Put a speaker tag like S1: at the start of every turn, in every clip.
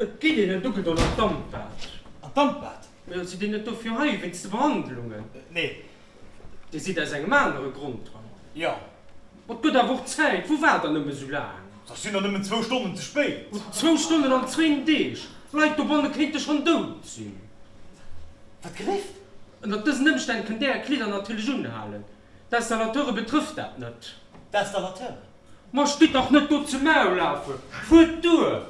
S1: Et geet een et ugedoen an d'Dampbad. An d'Dampbad? Jo, sidd Dir net dofir hei, wéinst de Behandlungen? Nee. Dir sidd aus engem anere Grond hei. Jo. Ma et gëtt awer och Zäit. Wou waart Der nëmme sou laang? Da sinn der nëmmen zwou Stonnen ze spéit. Zwou Stonnen an zwéin Deeg? Leit dobanne kéinte schonn dout sinn. Wat gelift? Ënnert dësen Ëmstänn kënnt Där Är Kleeder natierlech unhalen. D'Installateure betrëfft dat net. D'Installateure? Ma stitt dach net do ze maulafe! Fuert duer!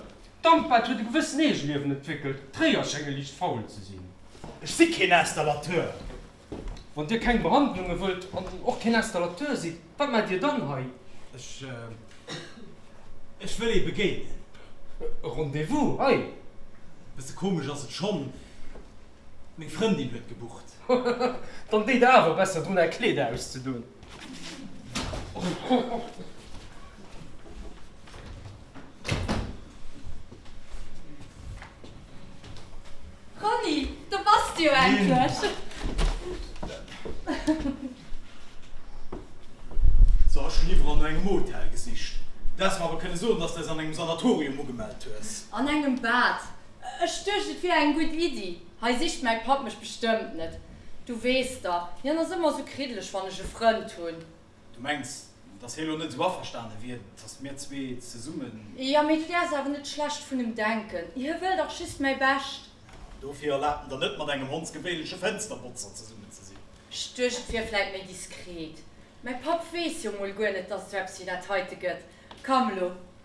S1: D'Dampbad huet e gewëssen Eegeliewen entwéckelt, d'Réier schénge liicht faul ze sinn. Ech si keen Installateur! Wann Dir keng Behandlunge wëllt an och keen Installateur sidd, wat maacht Dir dann hei? Ech. Ech wëll ee begéinen. E Rendez-vous hei? Bësse komesch ass et schonn. Meng Frëndin huet gebucht. Hohoho, dann deet der awer besser drun aer Kleeder auszedoen. Ronny, do bass de jo endlech! So, ech hunn iwwerall no engem Hotel gesicht. Du häss mer awer kënne soen, dass de eis an engem Sanatorium ugemellt hues. An engem Bad. Ech duecht, et wier eng gutt Iddi. Hei sicht mäi Papp mech bestëmmt net. Du weess dach, hien ass ëmmer esou kriddeleg, wann ech e Frënd hunn. Du mengs, dass hie lo net esou averstane wier, dass mir zwee zesummen. Jo, mee du däerfs awer net schlecht vun em denken. Hie wëll dach just mäi Bescht. An dofir erlaabt en der net, mat engem hondsgewéinleche Fënsterbotzer zesummen ze sinn. Ech duecht, et wier vläit méi diskret. Mäi Papp weess jo emol guer net, dass et esou eppes wéi dat heite gëtt. Komm elo,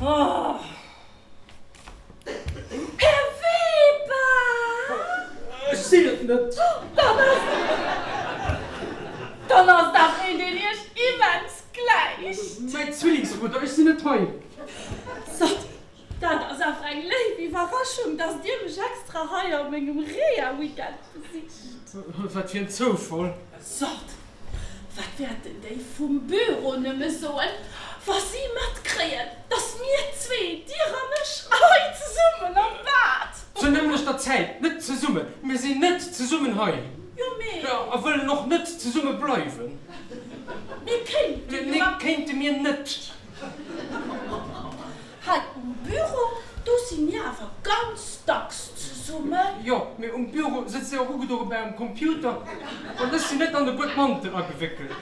S1: Här Weber! Ech sinn et net! Dann ass. Dann ass dat een, deen Iech immens gläicht. Mäi Zwillingsbruder, ech sinn net hei. Sot, dat ass awer eng léif Iwwerraschung, dass Dir mech extra hei a mengem Reha-Weekend besicht. Wat fir en Zoufall! Sot, Wat wäerten déi vum Büro nëmme soen, wa si matkréien, dass mir zwee, Dir an ech, hei zesummen am Bad. Zur nämmlechter Zäit net zesummen? Mir sinn net zesummen hei. Jo, mee. A wëllen och net zesumme bleiwen. Mir kéinte jo. Nee, kéinte mir net. Hei um Büro, do si mir awer ganz dacks zesummen. Jo, mee um Büro sëtzt ee och ugedoe bei engem Computer an ech sinn net an e Guedmantel agewéckelt.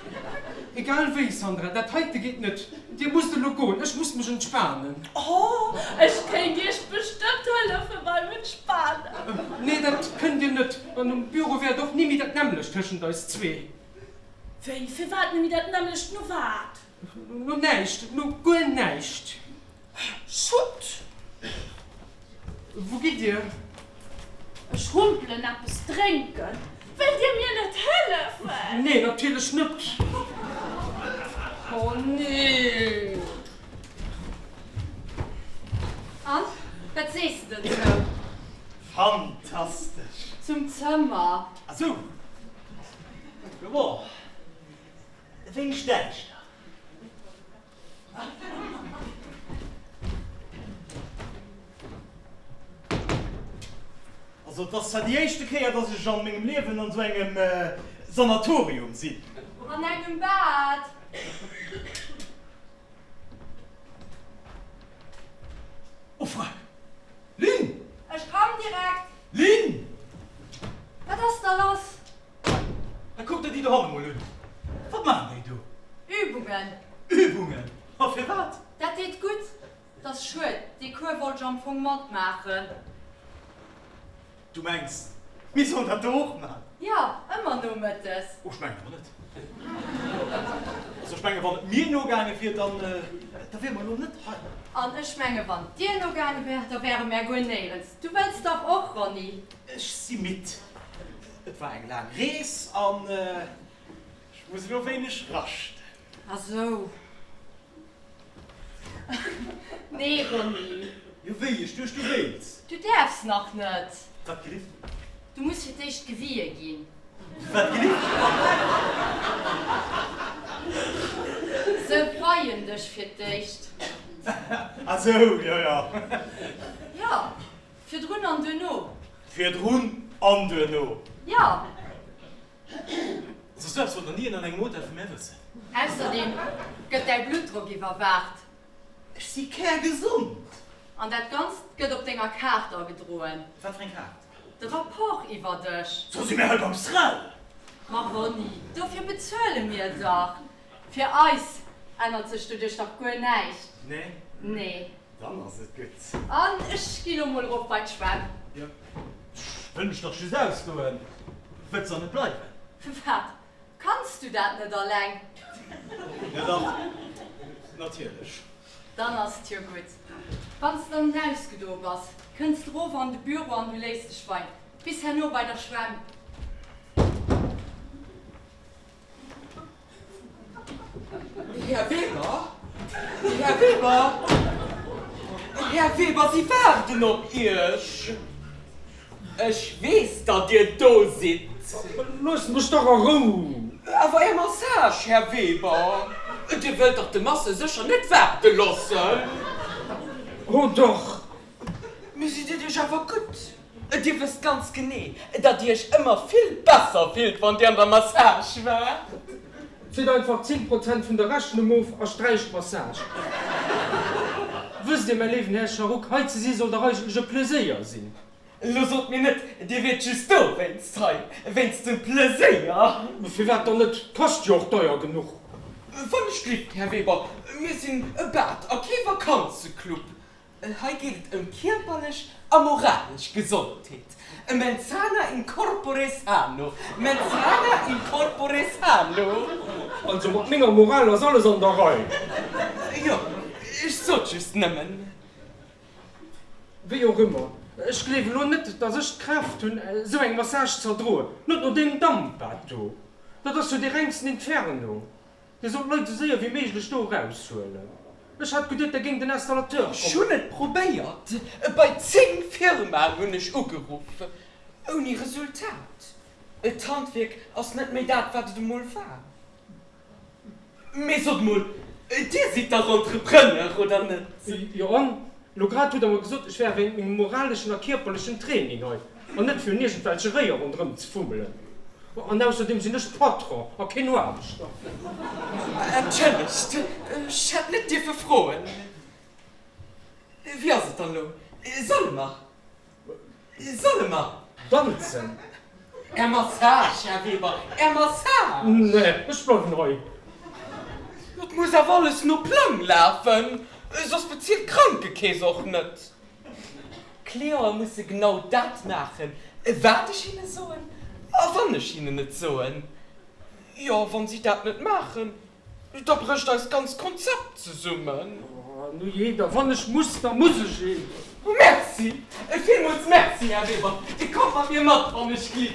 S1: Egal wéi, Sandra, dat heite geet net. Dir musst elo goen, ech muss mech entspanen. O, ech kéint Iech bestëmmt hëllefe beim Entspanen. Nee, dat kënnt Dir net. An um Büro wär et och ni méi dat nämmlecht tëschent eis zwee. Wéi, firwat ni méi dat nämmlecht? No wat? No näischt, no guer näischt. Schutt! Wou gitt Dir? Ech humpelen eppes drénken. Wëllt Dir mir net hëllefen? Nee, natierlech net. Oh nee! An, wat sees de denn zou? Fantastesch! Zum Zëmmer. Asou! Joer. Wéi stell ech der? Also et ass zwar déi éischte Kéier, dass ech an mengem Liewen an esou engem Sanatorium sinn. An engem Bad. Oh fuck! Lynn! Ech komm direkt. Lynn! Wat ass da lass? A kuck der déi do hanne mol un. Wat maachen déi do? Übungen. Übungen? A firwat? Dat deet gutt. Et ass schued, dee Cours wollt ech am Fong matmaachen. Du mengs, mir sollen dat do och maachen? Jo, ëmmer nomëttes. Oh, ech mengen awer net. Also, ech mengen, wann et mir nogaange wier, da wiere mer elo net hei. An ech mengen, wann et dir nogaange wär, da wäre mer guer néierens. Du wëlls dach och, Ronny? Ech si midd. Et war eng laang Rees an ech muss elo wéineg raschten. Ah sou. Nee, Ronny. Jo, wéi ech duecht, du wéilts. Du däerfs nach net. Wat gelift? Du muss fir d'éischt gewier ginn. Wat gelift? Se weien dech fir d'éischt. Ah sou, jo, jo. Jo, Virdrun an duerno. Virdrun an duerno. Jo. Soss duerfs wol nach ni een an engem Hotel vu mär wëssen. Ausserdeem gëtt däi Bluttdrock iwwerwaacht. Ech si kärgesond. An dat Ganzt gëtt op denger Kaart agedroen. Wat fir eng Kaart? De Rapport iwwer dech. Soss si mir hei beim SREL! Ma Ronny, dofir bezuele mir dach. Fir eis ännert sech doduerch dach guer näischt. Nee. Dann ass et gutt. An ech gi lo mol erop bei d'Schwämm. Jo, ech wëll mech dach just ausgoen. Wëlls dann net bleiwen? Wat, kanns du dat net alleng? Jo dach, natierlech. Dann ass et jo gutt. Wann s de dann ausgedoe bass, kënns de erof an de Büro an du léiss dech wein. Bis herno bei der Schwämm. Här Weber? Här Weber? Här Weber, si waarden op Iech. Ech weess, datt Dir do sidd. Loosst mech dach a Rou! Awer Är Massage, Här Weber? Dir wëllt dach de Masseur sécher net waarde loossen? Ho, dach! Mee sidd Dir Iech awer gutt, et, Dir wësst ganz genee, datt Dir Iech ëmmer vill besser fillt, wann Dir an der Massage waart. Zitt einfach 10 Prozent vun der Rechnung of a sträicht d'Massage. Wësst Dir, mäi léiwen Här Sharuk, hei ze si soll dach eigentlech e Pleséier sinn. Elo sot mir net, Dir wiert just dowéinst hei, wéinst dem Pleséier. Firwat dann net, kascht jo och deier genuch. Wann ech gleeft, Här Weber, mir sinn e Bad a kee Vakanzeclub. Hei geet et ëm kierperlech a moralesch Gesondheet, e mensana in corpore sano, mensana in corpore sano. Also mat menger Moral ass alles an der Rei. Jo, ech sot just nëmmen. Wéi och ëmmer, ech gleewen elo net, dass ech d'Kraaft hunn, esou eng Massage z'erdroen, net no deem Damp, wat do, dat ass jo dee rengsten Inferno. Dir sollt Leit esou séier wéi méiglech do eraushuelen. Ech hat geduet, der géing den Installateur kommen. Ech hunn et probéiert, bei 10 Firmaen hunn ech ugeruff, ouni Resultat. D'Handwierk ass net méi dat, wat et emol war. Mee sot emol, Dir sidd dach Entrepreneur, oder net? Jo, elo grad hutt Der mer gesot, ech wär wéinst mengem moraleschen a kierperlechen Training hei. An net fir un iergendwelche Réier ronderëm ze fummelen. An ausserdeem sinn ech Patron a keen Noaarbechter. Entschëllegt, ech hätt net dierfe froen. Wéi ass et dann elo? Solle mer? Solle mer? Danzen? Är Massage, Här Weber, Är Massage! Nee, ech bleiwen hei. Et muss awer alles no Plang lafen, soss bezilt d'Krankekeess och net. D'Cliente musse genau dat maachen, wat ech hinne soen. A wann ech hinnen et soen, jo, wann si dat net maachen, da brécht eist ganz Konzept zesummen. Oh, nujee, da wann ech muss, da muss ech eben. Merci! Villmools Merci, Här Weber. Dir kommt mat mir mat, wann ech ginn.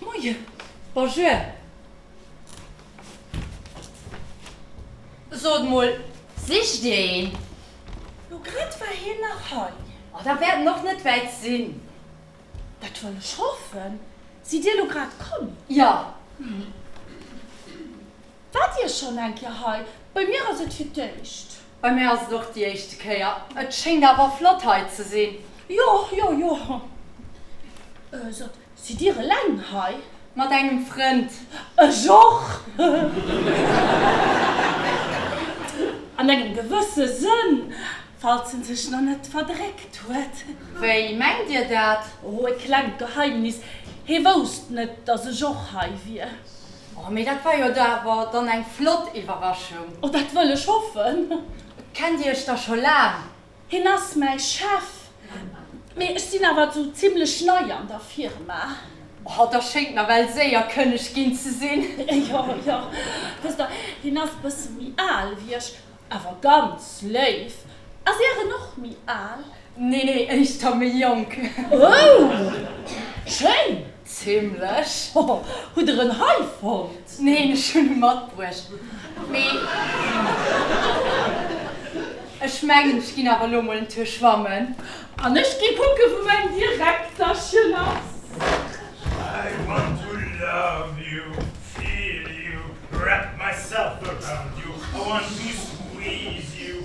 S1: Moien. Bonjour. Sot mol, sicht dir een? Lo grad war hien nach hei. Oh, da wäert en och net wäit sinn. Dat wëll ech hoffen. Sidd dir lo grad komm? Jo. Waart dir schonn eng Kéier hei? Bei mir ass et fir d'éischt. Bei mir ass et och déi éischte Kéier. Et schéngt awer flott hei ze sinn. Jo, jo, jo. Sot, Sidd Dir eleng hei? Mat engem Frënd. Ech och! An engem gewësse Sënn, falls en sech nach net verdréckt huet. Wéi mengt Dir dat? Oh, e klengt Geheimnis. Hee wousst net, dass ech och hei wier. Oh, mee dat war jo da awer dann eng flott Iwwerraschung. Oh, dat wëll ech hoffen. Kennt Dir Iech da scho laang? Hien ass mäi Chef, mee ech sinn awer esou zimlech nei an der Firma. Oh, da schéngt nawell séier Kënneg ginn ze sinn. Jo, jo. Wësst Der, hien ass e bësse méi al wéi ech, awer ganz léif. Ass Är en och méi al? Nee, nee, éischter méi jonk. Oh, schéin! Zimlech. Hoho, hutt der en hei fonnt? Neen, ech hunn e matbruecht, mee ech mengen, ech ginn awer elo mol en Tuer schwammen. An ech gi kucke wou mäin Direkterchen ass. I want to love you, feel you, wrap myself around you, I want to squeeze you,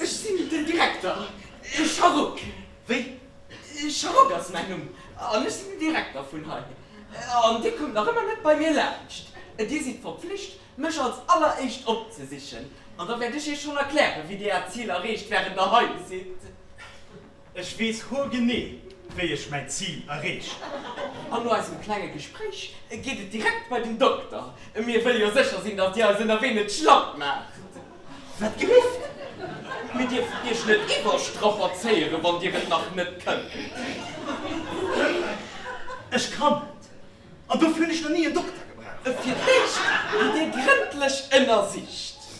S1: Ech sinn den Direkter Charrock. Wéi? Charrock ass mäin Numm an ech sinn den Direkter vun hei. An Dir kommt nach ëmmer net bei mir laanscht. Dir sidd verpflicht, mech als alleréischt opzesichen. An da wäert ech Iech schonn erklären, wéi Dir Äert Zil erreecht, wärend Der hei sidd. Ech weess hoergenee, wéi ech mäin Zil erreechen. An no eisem klenge Gespréich geet et direkt bei den Dokter. Mir wëlle jo sécher sinn, datt Dir eis ënnerwee net schlapp maacht. Wat gelift? Mir dierfen Iech net iwwerstrapazéieren, wann Dir et nach net kënnt. Ech kann et. An dofir hunn ech nach ni en Dokter gebraucht. Fir d'éischt gitt Dir grëndlech ënnersicht.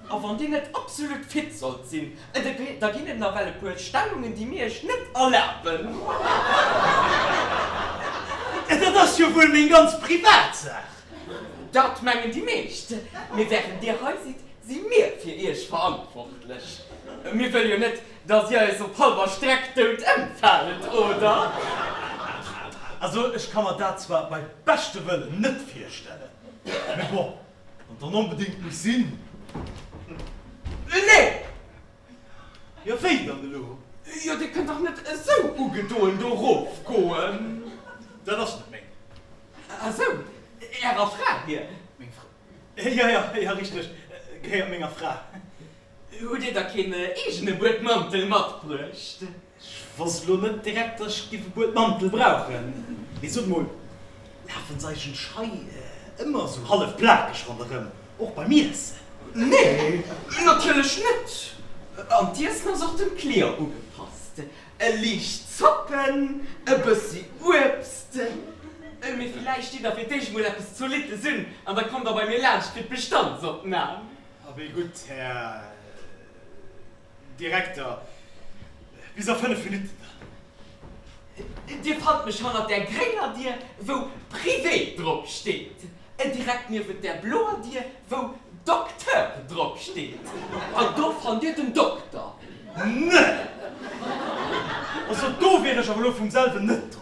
S1: A wann Dir net absolut fit sollt sinn, da ginn et nawell e puer Stellungen, déi mir Iech net erlaben. Dat ass jo wuel meng ganz privat Saach. Dat mengen déi meescht. Mee während Dir hei sidd, si mir fir Iech verantwortlech. Mir wëlle jo net, dass Dir eis op halber Streck dout ëmfaalt, oder? Also, ech ka mer dat zwar bei beschtem Wëllen net virstellen, mee bon. Wann dann onbedéngt muss sinn. Nee! Jo wéi dann elo? Jo dir kënnt dach net esou ugedoen do rof goen. Dat ass net meng. A sou, ärer Fra hir? Meng Fra? Jo jo, jo richteg, gehéiert menger Fra. Hutt dir da keen eegene Buedmantel matbruecht? Ech wosst elo net direkt, dass ech giff e Buedmantel brauchen. Mee sot mol, lafen d'Seichen Schei ëmmer esou hallef plakeg ronderëm, och beim Iessen? Nee, natierlech net. An d'Iessen ass och dem Client ugepasst, e liicht zoppen, e bëssi Uebst. Mee villäicht steet der fir d'éischt mol eppes zolittes un an da kommt der bei mir laanscht fir d'Bestandsopnam. Abee gutt, Här. Direkter, Bis a fënnef Minutten dann. Dir fannt mech hannert där grénger Dier, wou Privé drop steet, direkt niewent där bloer Dier, wou Docteur drop steet. An do fannt Dir den Dokter. Nee! Also do wier ech awer elo vum selwen net do.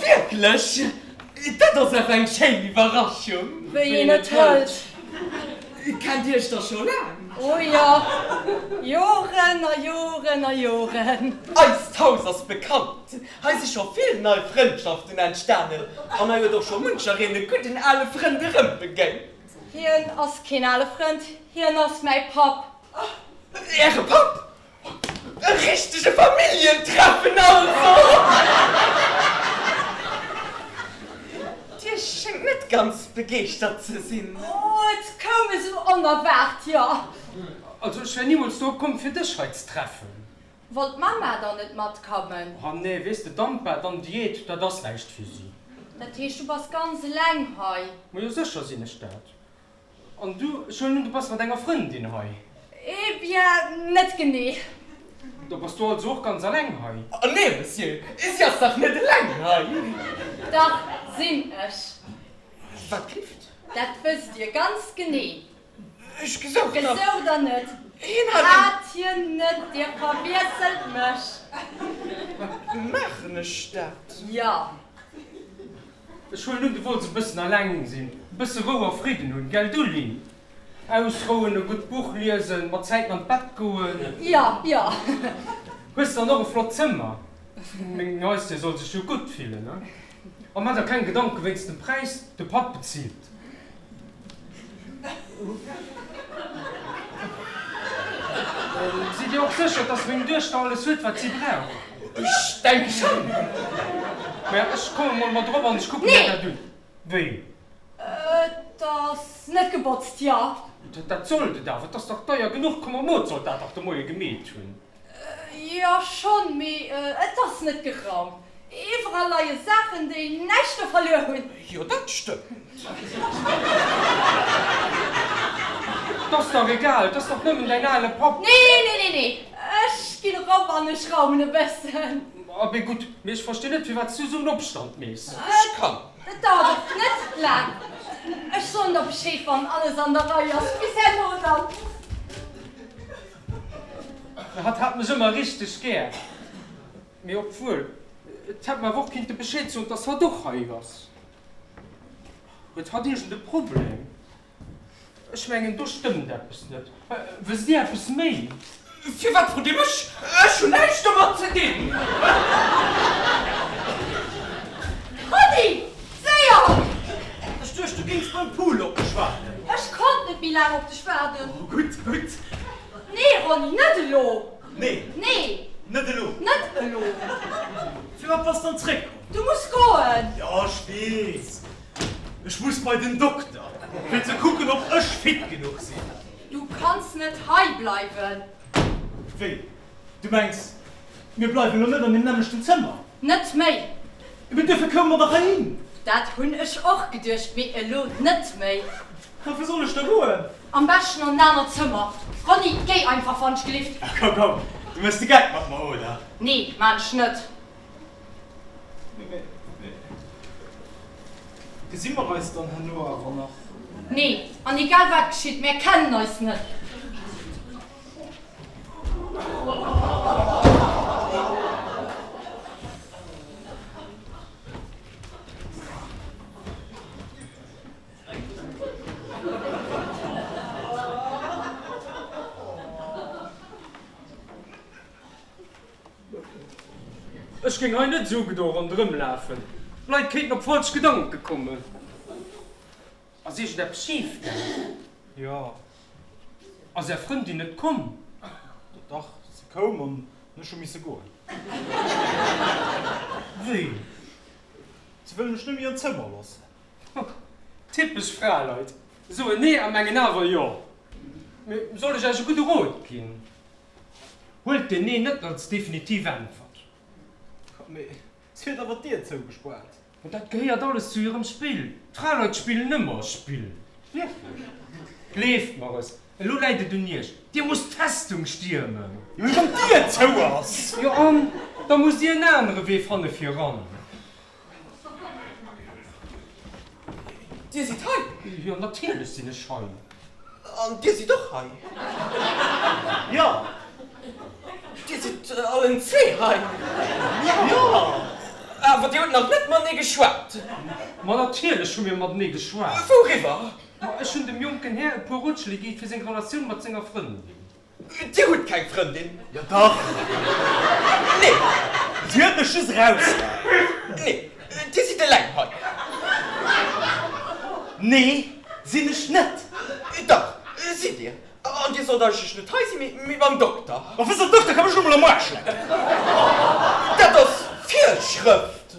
S1: Wierklech? Dat ass awer eng schéin Iwwerraschung! Wéi een et hëlt. Kennt Dir Iech da scho laang? O jo, Joren a Joren a Joren. Eist Haus ass bekannt, hei si scho vill nei Frëndschaften entstanen an hei huet och scho munchereen e gudden ale Frënd erëmbegéint. Hien ass keen ale Frënd, hien ass mäi Papp. Äre Papp? E richtege Familljentreffen also! Dir schéngt net ganz begeeschtert ze sinn. Oh, et koum esou onerwaart, jo. Also ech wär nimools drop komm, fir dech hei ze treffen. Wollt d'Mama dann net matkommen? Oh nee, weess de, d'Ampa, dann Diät, dat ass näischt fir si. Dat heescht, du bass ganz eleng hei? Majo, sécher sinn ech dat. An du? Ech huelen un, du bass mat enger Frëndin hei? Eh bien, net genee. Da bass du also och ganz alleng hei? Ah nee, Monsieur, si ass dach net eleng hei! Dach sinn ech. Wat gifft? Dat wësst Dir ganz genee. Ech gesouch nach. Gesouch der net? Hien hat. Hat hien net, Dir verwiesselt mech. Maachen ech dat? Jo. Ech huelen un, du wollts e bëssen alleng sinn, e bësse Rou a Fridden hunn, gell du, Lynn? Ausrouen, e gutt Buch liesen, mat Zäiten an d'Bett goen. Jo, jo. Hues dann och e flott Zëmmer? Meng Neistie soll sech jo gutt fillen, a maach der keng Gedanken wéinst dem Präis, de Papp bezilt. Sidd Dir och sécher, dass meng Duechter alles huet, wat si brauch? Ech denke schonn. Mä ech kommen emol mat erop an ech kucken mir dat un. Wéi? Et ass net gebotzt, jo? Dat sollt et awer, et ass dach deier genuch. Komm, am Mot sollt dat dach de Moie gemeet hunn. Jo schonn, mee et ass net geraumt. Iwwerall leie Saachen, déi näischt do verluer hunn. Jo, dat stëmmt. T'ass dach egal, t'ass dach nëmmen däin ale Papp. Nee, nee, nee, nee, ech ginn erop an ech raumen e bëssen. A bé gutt, mee ech verstinn net, firwat s du esou en Opstand meess. Ech kann. Et dauert och net laang. Ech soen der Bescheed, wann alles an der Rei ass. Bis herno dann. Hatt hat mech ëmmer richteg gär, mee obwuel et hätt mer awer och kinnte Bescheed soen, dass hatt och hei ass. Huet hatt iergend e Problem? Ech mengen, do stëmmt eppes net. Wësst Dir eppes méi? Firwat frot Dir mech? Ech hunn näischt domat ze dinn! Rudi! Séier! Ech duecht, du géings beim Pool op mech waarden. Ech konnt net méi laang op dech waarden. Oh, gutt, gutt. Nee, Ronny, net elo! Nee. Nee. Net elo. Net elo. Firwat bass dann zréckkomm? Du muss goen. Jo, ech weess. Ech muss bei den Dokter, fir ze kucken, ob ech fit genuch sinn. Du kanns net hei bleiwen. Wéi? Du mengs, mir bleiwen elo net an deem nämmlechten Zëmmer? Net méi! Mee duerfir koume mer dach heihin! Dat hunn ech och geduecht, mee elo net méi. A wou soll ech da goen? Am beschten an en anert Zëmmer. Ronny, géi einfach, wann ech gelift! Ach komm, komm, du méchs de Geck mat mer, oder? Nee, maan ech net. Gesi mer eis dann herno awer nach? Nee, an egal wat geschitt, mär kennen eis net! Ech géing hei net esou gedo rondrëmlafen, d'Leit kéinten op falsch Gedanke kommen. Ass iergend eppes schif gaangen? Jo. Ass är Frëndin net komm? Dach, se koum an ech hu misse goen. Wéi? Se wëll mech net méi an d'Zëmmer loossen. Typesch Fraleit, soen nee a mengen awer jo. Mee soll ech Iech e gudde Rot ginn? Huelt den Nee net als definitiv Äntwert. Mee S, Huet awer d'Dier zougespaart. Mä dat gehéiert alles zu hirem Spill. D'Fraleit spillen ëmmer Spill. Wierklech? Gleeft mer es. Elo läit et un iech. Dir musst d'Festung stiermen. Jo, wann d'Dier zou ass. Jo, an da musst dir en anere Wee fanne fir eran. Dir sidd hei? Jo, natierlech sinn ech hei. An Dir sidd och hei? Jo. Dir sidd allen zwee hei? Jo. Awer Dir hutt nach net matenee geschwat? Ma natierlech hu mir matenee geschwat. Wouriwwer? Ma ech hunn dem jonken Här e puer Rotschléi gi fir seng Relatioun mat senger Frëndin. Dir hutt keng Frëndin? Jo dach! Nee! Si huet mech just erausgehalen. Nee! Dir sidd eleng hei? Nee! Sinn ech net! Dach! Sidd Dir! An Dir sollt eigentlech net hei sinn, mee beim Dokter. Ma wéi soll den Dokter kommen? Ech hu mol am Aarsch leck! Dat ass Virschrëft!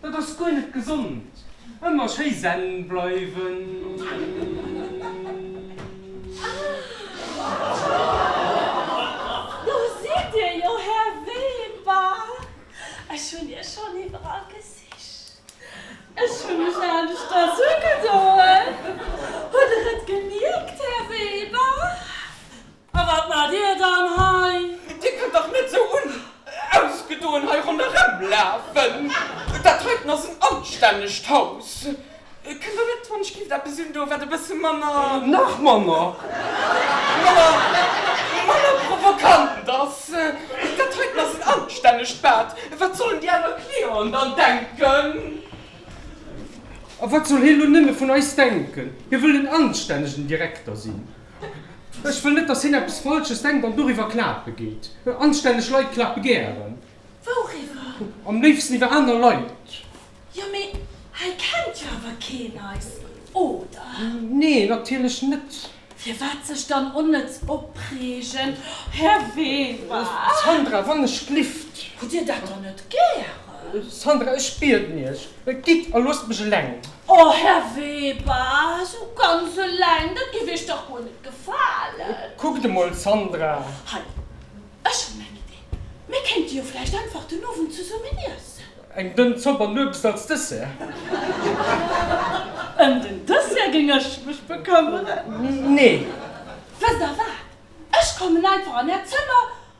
S1: Dat ass guer net gesond. Ëmmer schéi zen bleiwen. Do sidd Dir jo, Här Weber. Ech hunn Iech schonn iwwerall gesicht. Ech hu mech aneschters ugedoen. Hutt Der et gemierkt, Här Weber? A wat maacht Dir dann hei? Dir kënnt dach net esou unausgedoen hei ronderëmlafen. Dat heiten ass en anstännegt Haus. Kënnt Der net, wann ech géif eppes un do, wat e bësse manner. Nach manner. Manner, manner provokant ass? Dat heiten ass en anstännegt Bad. Wat sollen déi aner Clienten dann denken? A wat soll hie lo nëmme vun eis denken? Hie wëll en anstännegen Direkter sinn. Ech wëll net, dass hien eppes Falsches denkt an doriwwer Kla begeet. Anstänneg Leit klappe gären. Wouriwwer? Am léifsten iwwer aner Leit. Jo, mee hei kennt jo awer keen eis, oder? Nee, natierlech net. Firwat sech dann onnëtz opreegen, Här Weber? Sandra, wann ech glifft. Hutt Dir dat dann net gären? Sandra, ech bieden Iech, Et geet, a loosst mech eleng. O Här Weber, esou ganz eleng, dat géif Iech dach guer net gefalen. Kuckt emol, Sandra. Hei, ech hunn eng Idee, Mir kéinte jo vläicht einfach den Owend zesummen iessen. Eng dënn Zopp an Uebst als Dessert? Ëm den Dessert géing ech mech bekëmmeren. Nee. Wësst Der wat, ech kommen einfach an Äert Zëmmer.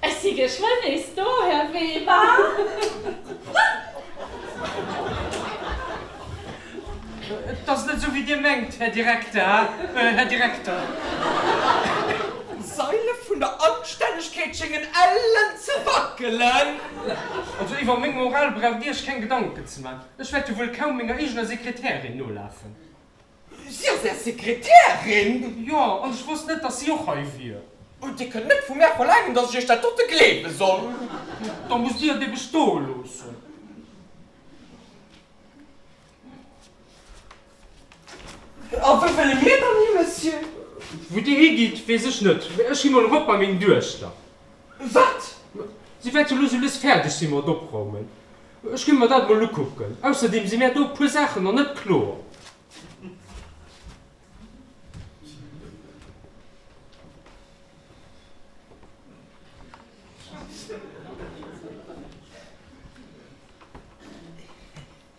S1: Ech si geschwënn nees do, Här Weber. Et ass net esou, wéi Dir mengt, Här Direkter, Här Direkter. D'Saile vun der Anstännegkeet schéngen ellen ze wackelen. Also, iwwer meng Moral braucht Dir Iech keng Gedanken ze maachen. Ech wäert jo wuel kaum menger eegener Sekretärin nolafen. Si ass Är Sekretärin? Jo, an ech wousst net, datt si och hei wier. Und Dir kënnt net vu mär verlaangen, datt ech Iech dat dote gleewe soll. Da musst Dir et ebe stoe loossen. A wou wëlle mir dann hi, Monsieur? Wou Dir higitt, weess ech net, mä ech gi mol erop bei meng Duechter. Wat? Si wäert jo elo souwéis fäerdeg si mat opraumen. Ech gi mer dat emol ukucken. Ausserdeem si mär do e puer Saachen nach net kloer.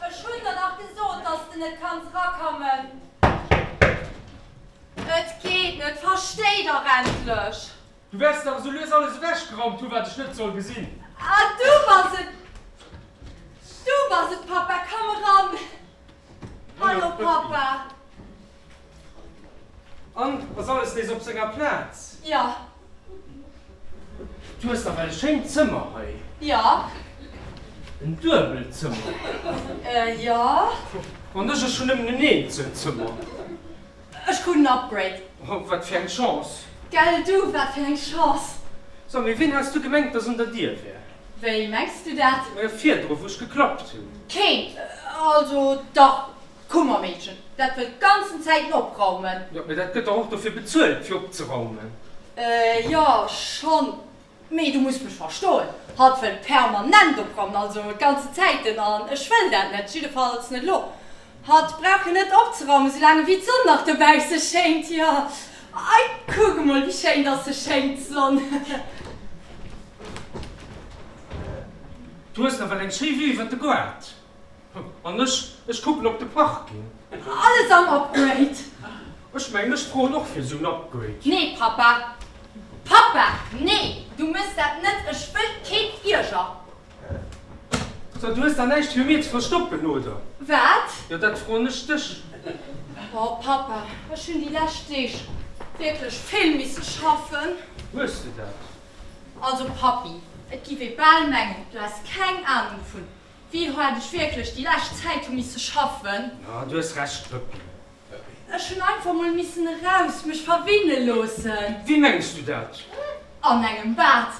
S1: Ech hun der dach gesot dass de net kanns rakammen. Et geet net, verstei dach endlech! Du wärst dach esou lues alles ewech geraumt hun wat ech net soll gesin. Ah du bass et, du bass et Papa, komm eran! Hallo Papa! An ass alles nees op senger Plaz? Jo. Du hues nawell e schéint Zëmmer hei. Jo. En Duebelzëmmer? Euh, jo. An ech? Ech hunn nëmmen en Eenzelzëmmer. Ech krut en Upgrade. Oh, wat fir eng Chance. Gell du, wat fir eng Chance. So, mee wien has du gemengt, dass un der Dier wär? Wéi mengs du dat? Virdru, wou ech geklappt hunn. Keen. Also, dach, D'Kummermeedchen, dat wëll d'ganzen Zäiten opraumen. Jo, mee dat gëtt dach och dofir bezuelt, fir opzeraumen. Jo, schonn, mee du muss mech verstoen, hatt wëll permanent opraumen, also d'ganzen Zäiten, an ech wëll dat net, jiddefalls net elo. Hatt brauch jo net opzeraumen, soulaang ewéi d'Sonn nach dobausse schéint. Jo, ei, kuck emol, wéi schéin dass se schéint, d'Sonn. Du hues nawell eng schéi Vue iwwer de Goart. An ech, ech kucken op de Parking. Alles am Upgrade. Ech mengen, ech froen och fir esou en Upgrade. Nee, Papa. Papa, nee, du mëss dat net. Ech wëll kee Flieger. So, du hues da näischt fir mir ze verstoppen, oder? Wat? Jo, dat froen ech dech. Oh, Papa, ech hunn déi lescht Deeg wierklech vill misse schaffen. Hues de dat? Also, Papi, et giff ee bal mengen, du häss keng Anung vun Wéi haart ech wierklech déi lescht Zäit hu misse schaffen. Jo, du hues Recht, Wëppi. Ech hunn einfach mol missen eraus mech verwinne loossen. Wéi mengs du dat? An engem Bad,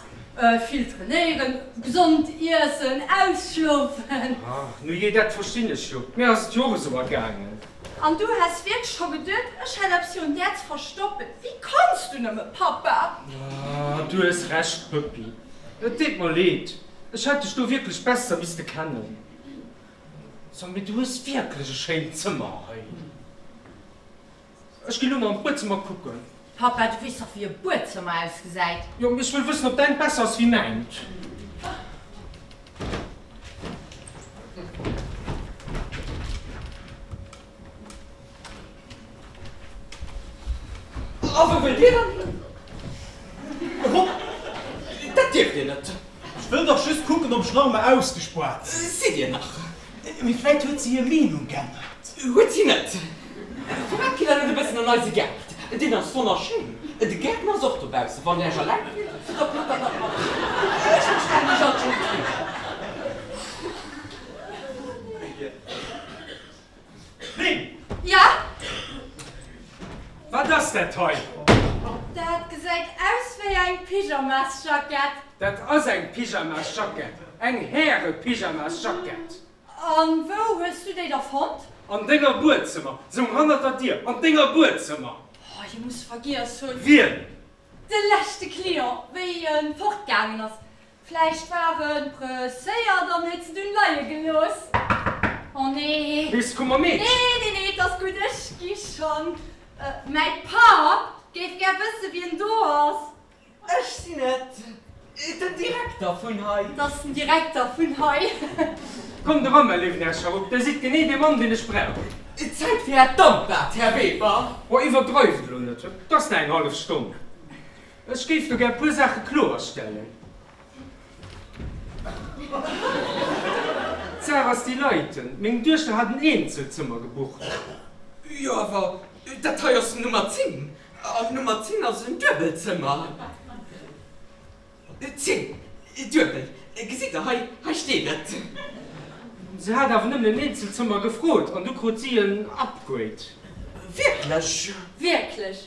S1: vill trainéieren, gesond iessen, ausschlofen. Nu jee, dat verstinn ech jo. Mir ass et jo och esou ergaangen. An du häss wierklech scho geduet, ech hätt eppes virun där ze verstoppen? Wéi kanns du nëmme, Papa? Du hues Recht, Wëppi. Et deet mer leed. Ech hätt dech do wierklech besser misste kennen. So, mee du hues wierklech e schéint Zëmmer hei. Ech ginn lo mol an d'Buedzëmmer kucken. Papa, du weess dach, wéi e Buedzëmmer ausgesäit. Jo, mee ech wëll wëssen, ob däint besser ass wéi mäint. A wou wëllt Dir dann hunn? Hopp! Dat dierft Dir net! Ech wëll dach just kucken, ob ech nach emol ausgespuert sinn. Sidd Dir nach. Mee vläit huet si hir Meenung geännert. Huet si net. Firwat kritt Der net e bëssen an eise Gaart? Deen ass wonnerschéin. De Gäertner ass och dobaussen. Wann Der Iech eleng fillt, da packt Der dat mat an. Ech verstinn Iech alt just riicht. Lynn! Ja? Wat ass dat hei? Dat gesäit aus wéi eng Pyjamasjackett. Dat ass eng Pyjamasjackett, eng Häre-Pyjamasjackett. An wou hues du déi da fonnt? An denger Buedzëmmer, sou hannert der Dier, an denger Buedzëmmer. Oh, hie muss vergiess hunn. Wien? De leschte Client, wéi e fortgaangen ass. Vläicht war e presséiert an huet se dunn leie gelooss. Oh nee. Bis komm mer mit. Nee, nee, nee, et ass gutt, ech gi schonn. Mäi Papp géif gär wësse wien do ass. Ech sinn et, den Direkter vun hei. T ass den Direkter vun hei. Kommt erëm, Här Lübnascharup, Dir sidd genee dee Mann, deen ech brauch. Zäit fir Är Dampbad, Här Weber. Oh, iwwerdreift elo net. Et ass nach eng hallef Stonn. Ech géif do gär e puer Saache kloerstellen. D'Sach ass déi, Leiten, meng Duechter hat en Eenzelzëmmer gebucht. Jo, awer dat hei ass den Nummer 10, an Nummer 10 ass en Duebelzëmmer. 10, duebel, gesitt Der, hei, hei steet et. Se hat awer nëmmen en Eenzelzëmmer gefrot, an du krut si en Upgrade. Wierklech? Wierklech?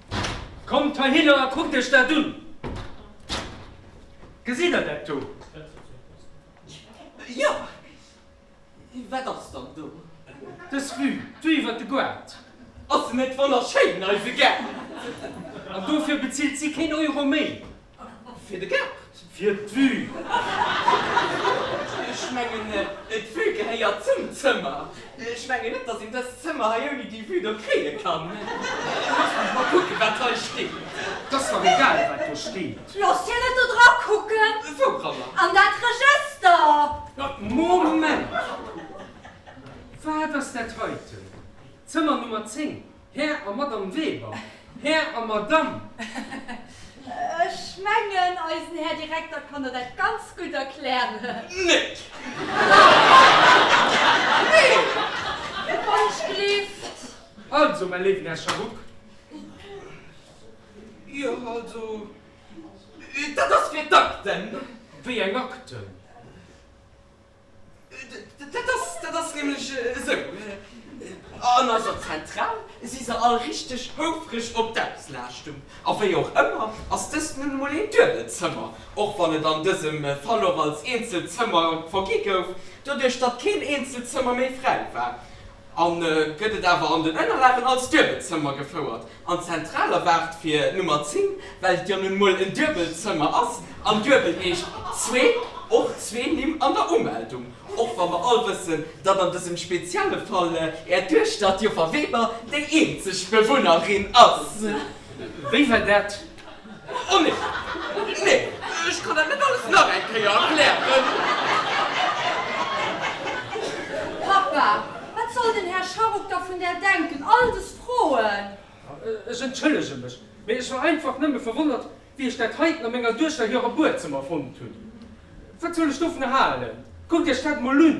S1: Kommt heihinner a kuckt iech dat un! Gesitt der dat do? Jo! Wat ass dann do? Dës Vue do iwwer de Goart! Ass se net wonnerschéin, eise Gaart! An dofir bezilt si keen Euro méi! Fir de Gaart. Fir d'Vue. Ech mengen, d'Vue gehéiert zum Zëmmer. Ech mengen net, dass een dëst Zëmmer hei ouni déi Vue do kréie kann. Loosst mech mol kucken, wat hei steet. Et ass dach egal, wat do steet. Loosst hien et do dra kucken. Wouranner? An dat Regëster. Moment! Wat ass dat heiten? Zëmmer Nummer 10? Här a Madame Weber, Här a Madame. Ech mengen, eisen Här Direkter kann der dat ganz gutt erklären. Net! Mee wann ech gleeft. Also, mäi léiwen Här Sharuk, jo, also, dat ass fir d'Akten. Wéi eng Akten? Dat ass nämlech esou, an eiser Zentral si se all richteg houfreg op d'Auslaaschtung. A wéi och ëmmer ass dëst nun emol een duebelt Zëmmer, och wann et an dësem Fall och als eenzelt Zëmmer vergi gouf, doduerch datt keen eenzelt Zëmmer méi fräi war. an gëtt et awer an den Ënnerlagen als duebelt Zëmmer gefouert an zentral erwaart fir Nummer 10, well et jo nun mol en duebelt Zëmmer ass an duebel heescht zwee, och zwee Nimm an der Umeldung, och wa mer all wëssen, datt an dësem spezielle Fall Är Duechter, d'Joffer Weber, déi eenzeg Bewunnerin ass. Wéi war dat? Oh nee, nee, ech kann dat net alles nach eng Kéier erklären. Papa, wat soll den Här Scharruck da vun där denken, all des Froen? Ech entschëllege mech, mee ech war einfach nëmme verwonnert, wéi ech dat heiten a menger Duechter hirem Buedzëmmer fonnt hunn. Wat soll ech dovun halen? Kuckt Iech dat emol un!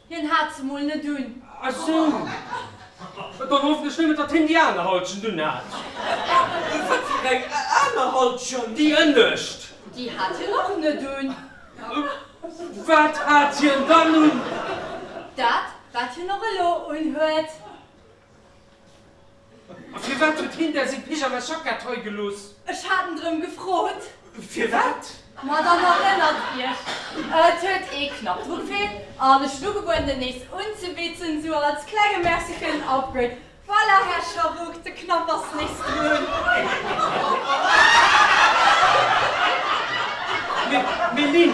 S1: Hien hat se mol net un. Ah sou. Dann hoffen ech nëmmen, datt hien déi aner Halschent unhat. Wat fir eng aner Halschent? Déi ënnescht. Déi hat hien och net un. Wat hat hien dann un? Dat, wat hien och elo unhuet. A firwat huet hien där seng Pyjama-Jackett hei gelooss? Ech hat en drëm gefrot. Firwat? Ma dann erënnert Iech, et huet ee knapp dru gefeelt an ech hunn ugebueden, en nees unzebitzen, sou als klenge Merci fir den Upgrade. Voilà, Här Scharouk, de Knapp ass nees grön. Mee, Lynn,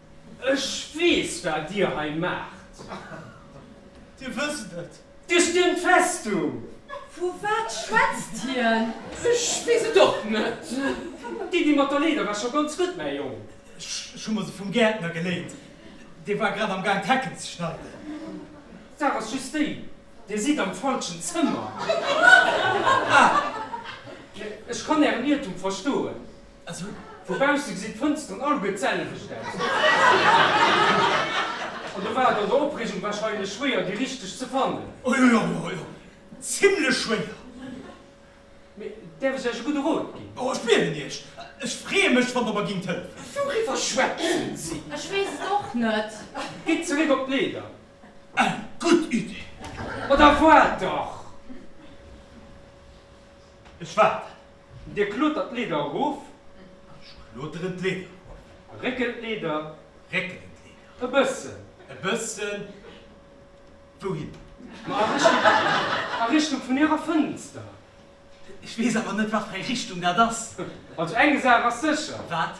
S1: Ech weess, wat Dir hei maacht. Dir wësst et. Dir stiermt d'Festung. Vu wat schwätzt hien? Ech weess et och net. D'Iddi mat der Leeder war scho ganz gutt, mäi Jong. Ech hu mer se vum Gäertner geléint. Dee war grad am Gaang, d'Hecken ze schneiden. D'Saach ass just déi, Dir sidd am falschen Zëmmer. Ah! Ech kann Ären Iertum verstoen. Also vu bausse gesinn d'Fënsteren alleguer d'selwecht aus. An do war et an der Opreegung wahrscheinlech schwéier déi richteg ze fannen. O jo, jo, jo, jo, zimlech schwéier. Mee däerf ech Iech e gudde Rot ginn? O, ech bieden Iech. Ech freeë mech, wann Der mer ginnt hëllefen. Wouriwwer schwätzen si? Ech weess et och net. Gitt zeréck op d'Leeder. Eng gutt Idee. Ma da waart dach! Ech waarden. Dir klotert d'Leeder erof. Ech kloteren d'Leeder erof. Réckelen d'Leeder. Réckelen d'Leeder. E bëssen. E bëssen. Wouhin? Ma a Richtung vun Ärer Fënster. Ech weess awer net, wat fir eng Richtung dat ass. Also eng Saach ass sécher. Wat?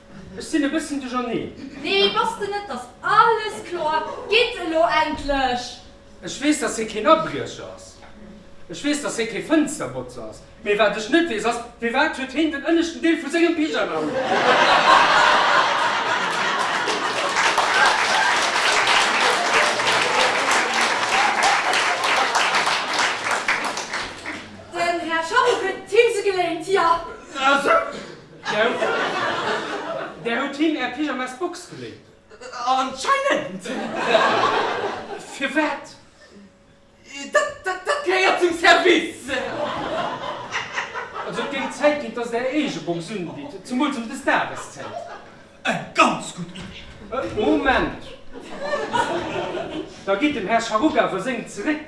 S1: Ech sinn e bësschen duercherneen. Nee, bass de net. Ass alles kloer? Gitt elo endlech! Ech weess, dass hie keen Abriecher ass. Ech weess, dass hie kee Fënsterbotzer ass. Mee wat ech net weess ass, firwat huet hien den ënneschten Deel vu sengem Pyjama un? Den Här Schaff huet d'Himse geléint, jo. Där hutt him är Pyjamasbox geléint. Anscheinend! Firwat? Dat gehéiert zum Service! Also et géing Zäit ginn, dass der eege Box unbitt, zemools ëm dës Dageszäit. Eng ganz gutt Iddi! Moment! Da geet dem Här Scharuga awer seng zeréck.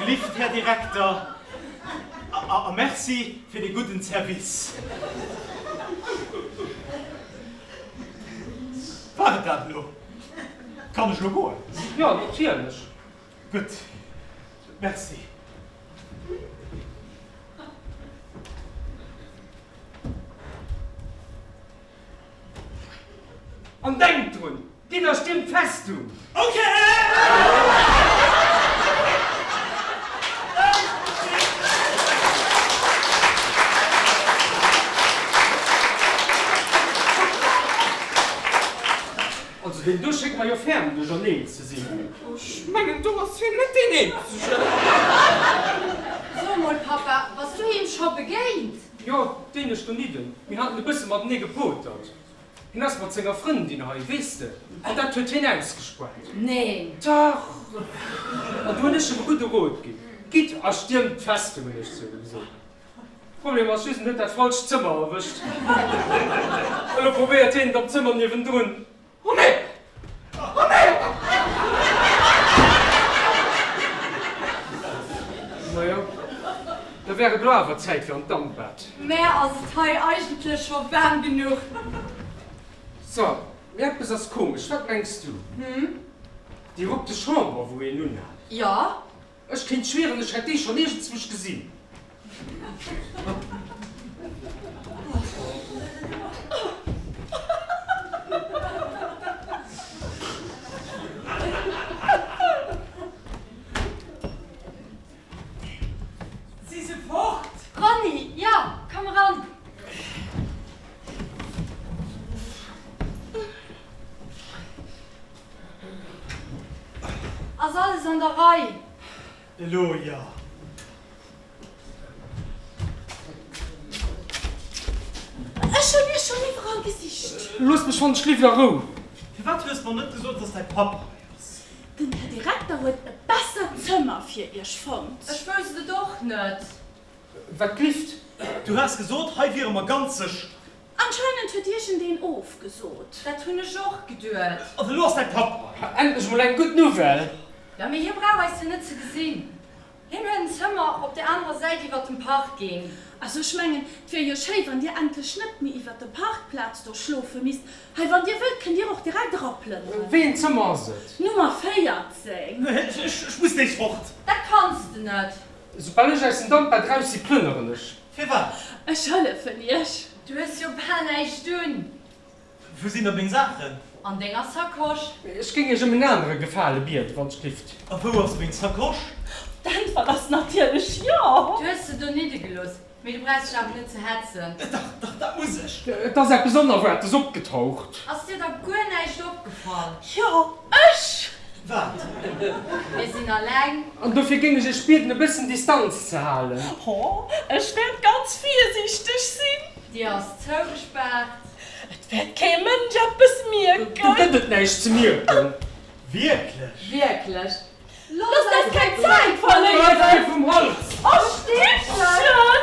S1: Gelift Här Direkter, a Merci fir de gudden Service. War et dat elo? Kann ech elo goen? Jo, natierlech. Gutt, Merci. An denkt drun, Dinner stimmt fest um. Also deen do schéngt mer jo ferm duercherneen ze sinn. Ech mengen do ass hien net deen eenzegen. So emol Papa, bass du him scho begéint? Jo, deen ech donidden. Mir haten e bësse matenee gepotert. Hien ass mat senger Frëndin hei, weess de. An dat huet hien ausgespuert. Neen! Dach! An du hunn ech him e gudde Rot ginn. Gitt a stiermt d'Festung, hunn ech zu him gesot. Problem ass just, en huet dat falscht Zëmmer erwëscht. Elo probéiert hien et am Zëmmer niewendrun. Oh nee! Oh nee! Majo, da wär et lo awer Zäit fir an d'Dampbad. Mä ass et hei eigentlech scho waarm genuch? So, mee eppes ass komesch, wat mengs du? Hm? Déi rupte Chamber, wou een unhat. Jo. Ech kéint schwieren, ech hätt dee schon iergendswusch gesinn. Si se fort? Ronny, Jo, komm eran. Ass alles an der Rei? Elo jo. Ech hu mir schonn iwwerall gesicht. Looss mech schonn, ech leefen a Rou. Firwat hues mer net gesot, dass däi Papp hei ass? Den Här Direkter huet e bessert Zëmmer fir iech fonnt. Ech wousst et och net. Wat glifft? Du has gesot, hei wiere mer ganz sécher. Anscheinend huet iergend een ofgesot. Dat hunn ech och geduet. Also elo ass däi Papp hei. Ha, endlech mol eng gutt Nouvelle! Jo, mee hie brauch eis jo net ze gesinn. Hien huet en Zëmmer op der anerer Säit iwwert dem Parking. Also ech mengen, 't wier jo schéi, wann dir endlech net méi iwwert der Parkplaz do schlofe misst. Hei, wann dir wëllt, kënnt dir och direkt eraplënneren. Wéi een Zëmmer ass et? Nummer 14. Ech muss nees fort. Dat kanns de net. Soubal ech aus dem Damp baudraus si, plënneren ech. Firwat? Ech hëllefen iech. Du hues jo bal näischt un. Wou sinn da meng Saachen? An denger Sacoche. Ech géing iech ëm en anere Gefale bieden, wann s gifft. A wou ass meng Sacoche? D'Äntwert ass natierlech jo! Du hues se do niddegelooss. Mee du brauchs dech awer net ze hetzen. Dach, dach, dat muss ech. Et ass eppes Onerwaartes opgetaucht. Ass dir da guer näischt opgefall? Jo, ech! Wat? Mir sinn alleng. An dofir géing ech Iech bieden, e bëssen Distanz ze halen. Ho, ech wäert ganz virsiichteg sinn. D'Dier ass zougespaart. Et wäert kee Mënsch eppes mierken. Do gëtt et näischt ze mierken. Wierklech? Wierklech. Loosst eis keng Zäit verléieren. Bleift mir vum Hals! A Stippchen!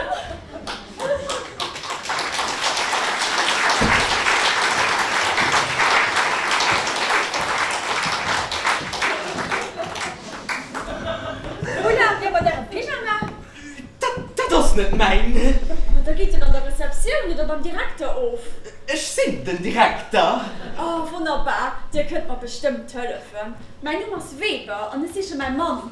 S1: Wou laaft Dir mat Ärem Pyjama? Dat ass net mäin. Ma da geet en an der Receptioun oder beim Direkter of. Ech sinn den Direkter. Oh wonnerbar, Dir kënnt mer bestëmmt hëllefen. Mäin Numm ass Weber an ech siche mäi Mann.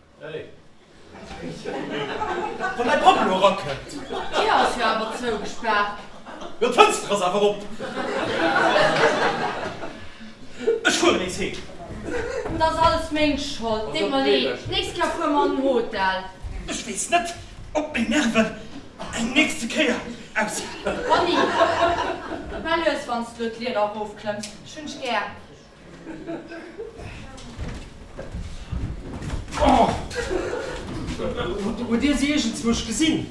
S1: Wann däi Papp elo erakënnt! D'Dir ass jo awer zougespaart. Jo, d'Fënster ass awer op. Ech fueren nees heem. Et ass alles meng Schold. Deet mer leed. D'nächst Kéier fuere mer an en Hotel. Ech weess net, ob meng Nerven eng nächste Kéier aushalen. Conny, mä lues, wann s du elo d'Lieder erofklëmms. Ech hunn dech gär. Hutt Dir se iergendzwou scho gesinn?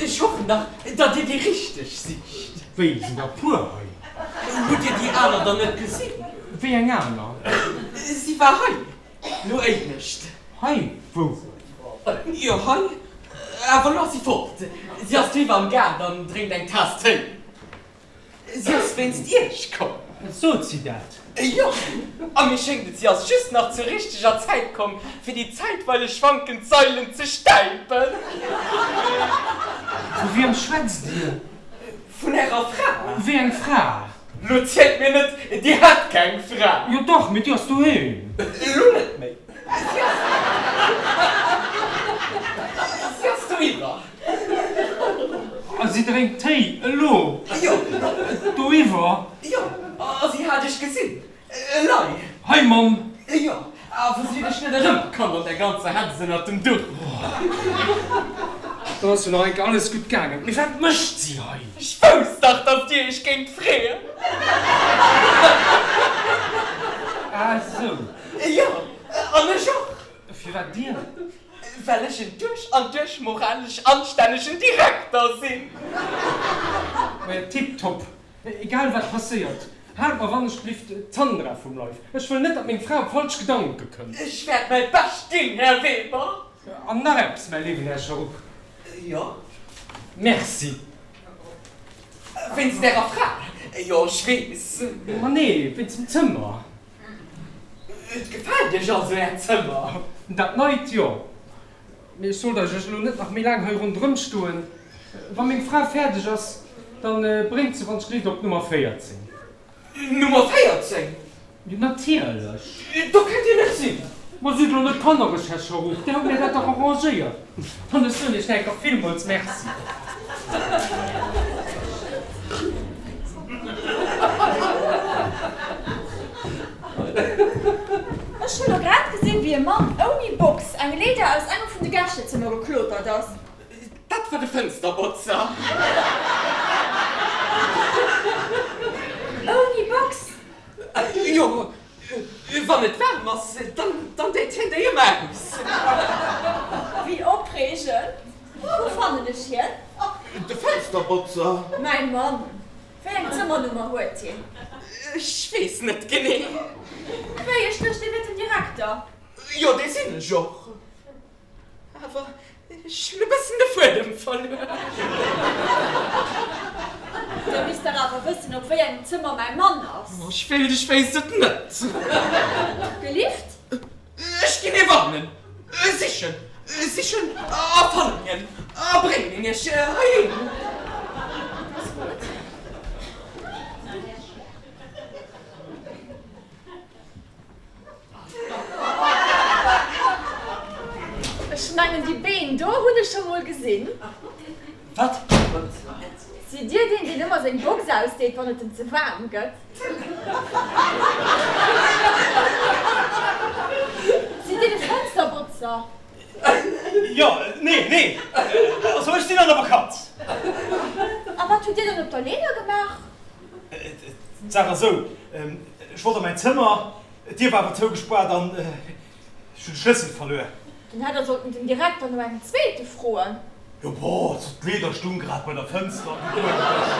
S1: Ech hoffen nach, datt Dir déi richteg sicht. Wéi, et sinn der e puer hei. Hutt Dir déi aner dann net gesinn? Wéi eng aner? Si war hei, lo éinescht. Hei? Wou? Jo, hei. Awer lo ass si fort. Si ass driwwer am Gaart an drénkt eng Taass Téi. Si ass wéinst Iech komm. Sot si dat? Jo. A mir schéngt et, si ass just nach zur richteger Zäit komm, fir déi zäitweileg schwankend Sailen ze stäipen. Vu wiem schwätzt Dir? Vun Ärer Fra. Wéi eng Fra? Lo zielt mir net, Dir hat keng Fra. Jo dach, mee déi ass doheem. Elo net méi. Si ass. Si ass doriwwer. A si drénkt Téi elo? Jo. Doiwwer? Jo. A si hat dech gesinn? Elei. Hei, Mamm. Jo. A wou si dech net erëmkoum an der ganzer Hetz ënnert dem Duch. Do ass jo nach enke alles gutt gaangen. Mee wat mécht si hei? Ech wousst dach, datt Dir Iech géingt freeën. Ah esou. Jo. An ech och. Firwat Dir? Well ech en duerch an duerch moralesch anstännegen Direkter sinn. Tip top! Egal wat passéiert, haalt mer wannechbliwt d'Sandra vum Leif. Ech wëll net, datt meng Fra op falsch Gedanke kënnt. Ech wäert mäi Bescht ginn, Här Weber. An nach eppes, mäi léiwen Här Scharupp. Jo? Merci. Wéinst Ärer Fra? Jo, ech weess. Ma nee, wéinst dem Zëmmer. Et gefält iech also äert Zëmmer? Dat neit, jo. Mee ech sollt eis ech elo net nach méi laang hei ronderëm stoen. Wa meng Fra fäerdeg ass, da bréngt se, wann d'Schléit, op d'Nummer 14. Nummer 14? Jo, natierlech. Do kënnt dir nach sinn. Ma sidd elo net kannereg, Här Scharouf, dir hutt mir dat dach arrangéiert. An ech soen Iech denken villmools Merci. Ech hu lo grad gesinn, wéi e Mann ouni Box eng Leeder aus engem vun de Gäschezëmmer geklotert ass. Dat war de Fënsterbotzer. Ouni Box? Jo, Wann et waarm ass, dann deet hien déi ëmmer aus. Wéi opreegend! Wou fannen ech hien? De Fënsterbotzer. Mäi Mann. Wéi eng Zëmmernummer huet hien? Ech weess net genee. Wéi ech duecht, dir wiert den Direkter. Jo, dee sinn ech och. Awer ech hunn e bëssen de Fuedem verluer. Dir misst dach awer wëssen, op wéi engem Zëmmer mäi Mann ass. Oh, ech wéilt, ech wéisst et net. Gelift? Ech ginn ee warnen, e sichen, e sichen a fannen hien a bréngen hien iech heiheem. Ech mengen déi Been do hunn ech scho mol gesinn. Wat? Sidd Dir deen, deen ëmmer seng Box ausdeet, wann et em ze waarm gëtt? Sidd Dir de Fënsterbotzer? Jo, nee, nee, also ech sinn an der Vakanz. A wat hutt Dir dann op der Leeder gemaach? D'Saach ass esou, ech wollt a mäin Zëmmer, d'Dier war awer zougespaart an ech hunn de Schlëssel verluer. Dann hätt Der sollten den Direkter no engem zweete froen. Jo, boah, also d'Leeder stung grad bei der Fënster, an du eng Fësch.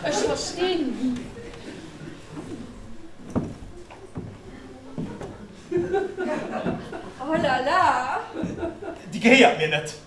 S1: Ech verstinn. Oh la la. Déi gehéiert mir net.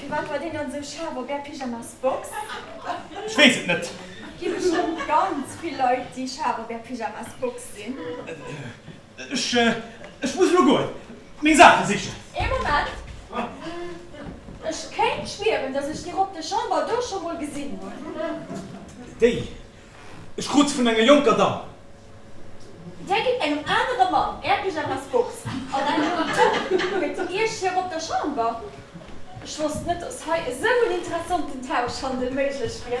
S1: Firwat war deen dann esou scharf op är Pyjamas Box? Ech weess et net. Gi bestëmmt ganz vill Leit déi scharf op är Pyjamas Box sinn. Ech ech muss elo goen meng Saache sichen. Ee Moment, ech kéint schwieren dass ech déi Robb de Chamber do scho mol gesinn hunn. Déi Ech krut se vun enger jonker Damm. Där gitt engem anere Mann Är Pyjamasbox an engem Tuch fir zu Iech hir op der Chamber. Ech wosst net, dass hei esou en interessanten Tauschhandel méiglech wier.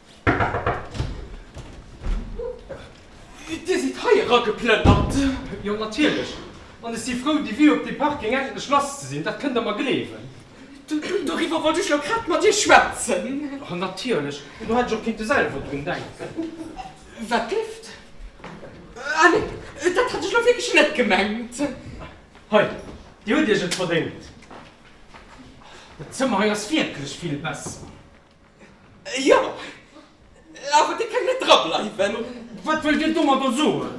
S1: Dir sidd hei erageplënnert? Jo, natierlech. An ech si frou, déi Vue op dee Parking endlech lass ze sinn, dat kënnt Der mer gleewen. Doriwwer wollt ech jo grad mat Dir schwätzen. Natierlech, elo hätt ech och kinnte selwer drun denken. Wat gléckt? Ah nee, dat hat ech elo wierklech net gemengt. Hei, Dir hutt Iech et verdéngt. Dat Zëmmer hei ass wierklech vill besser. Jo, awer dir kënnt net drableiwen. Wat wëllt dir domadder soen?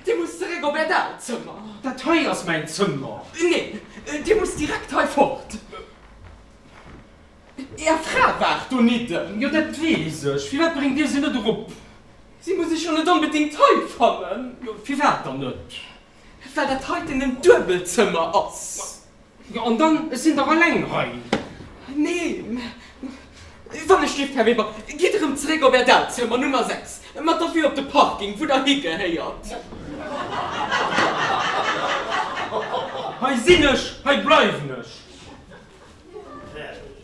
S1: Dir musst zeréck op äert aalt Zëmmer. Dat hei ass mäin Zëmmer. Neen, dir musst direkt hei fort. Är Fra waart donidden. Jo, dat weess ech. Firwat bréngt dir se net erop? Si muss ech jo net onbedéngt hei fannen. Firwat dann net? Well dat heiten en Duebelzëmmer ass. Jo, an dann, ech sinn dach eleng hei. Nee, mä wann ech dierft, Här Weber, gitt erëm zeréck op Är Dalzier, mat Nummer 6, mä dofir op de Parking, wou Der higehéiert. Hei sinn ech, hei bleiwen ech.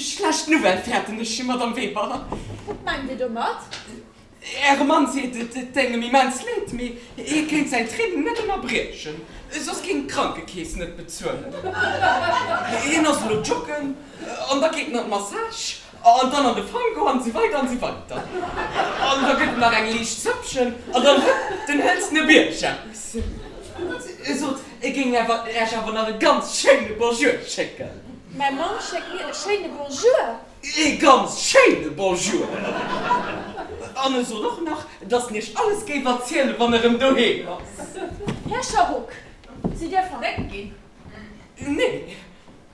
S1: Schlecht Nouvelle fäerten ech, Madame Weber. Wat mengt Dir domat? Äre Mann seet, et déng em immens leed, mee hie kéint säin Training net ënnerbriechen, soss kéint d'Krankekeess net bezuelen. Hien ass elo joggen an da geet en an d'Massage. An dann an de Franco an esou weider an esou weider. An da gëtt et nach eng liicht Zëppchen an dann hëlt den hëlzene Bierg aus. E sot, e géing Äech awer nach e ganz schéine Bonjour schécken. Mäi Mann schéckt mir e schéine Bonjour. E ganz schéine Bonjour. An e sot och nach, dass en Iech alles géif erzielen, wann e rëm doheem ass. Här Scharock, sidd Dir verréckt ginn? Nee.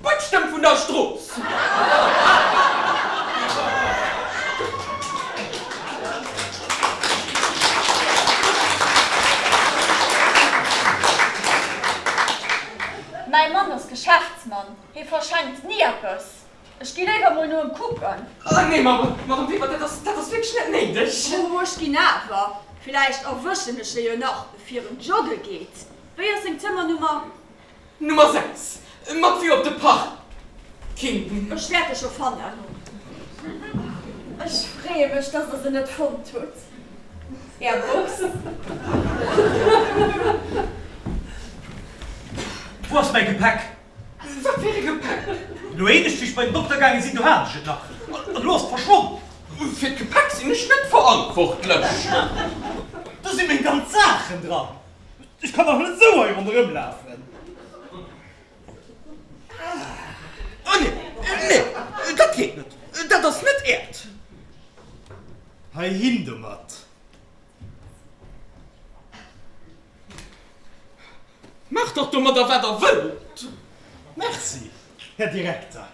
S1: D'Putzstëmm vun der Strooss. Mäi Mann ass Geschäftsmann, hie verschenkt ni eppes. Ech gi léiwer mol no em kucken. Ah nee, Madame Weber, dat ass wierklech net néideg. Oh, ech ginn awer. Villäicht erwëschen ech e jo nach, fir en jogge geet. Wéi ass seng Zëmmernummer? Nummer 6, mat Vue op de Parking. Ech wäert e scho fannen. Ech freeë mech, dass der se net fonnt hutt. Är Box. Wou ass mäi Gepäck? Wat fir e Gepäck? Elo een ech fir ech bei den Dokter gaange sinn, do hat ech et nach. An elo ass et verschwonn. Fir d'Gepäck sinn ech net verantwortlech. Do si meng ganz Saachen dran. Ech kann dach net sou hei ronderëm lafen. Ah nee, nee, dat geet net. Dat ass net äert. Heihin domat. Maacht dach domadder wat der wëllt. Merci, Här Direkter.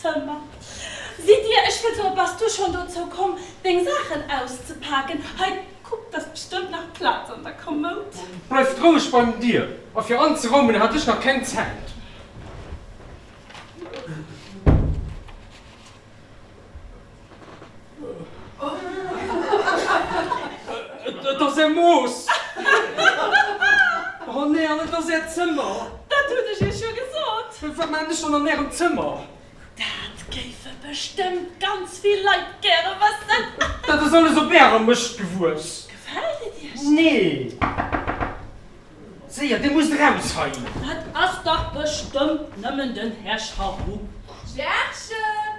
S1: Summer, Sidd Dir, ech wëll soen, bass Du schonn dozou komm, Deng Saachen auszepaken? Hei, kuck, d'ass bestëmmt nach Plaz an der Kommoud. Bleift roueg bei den Dier, a fir anzeraumen hat ech nach keng Zäit. Et ass Är Mooss! Oh nee, an et ass Äert Zëmmer! Dat hunn ech Iech jo gesot! Wat maachen ech dann an Ärem Zëmmer? Dat géife bestëmmt ganz vill Leit gäre wëssen! Dat ass alles op Ärer Mëscht gewuess! Gefält et Iech? Nee! Séier, Dir musst eraus hei! Dat ass dach bestëmmt nëmmen den Här Charou! D'Järchen!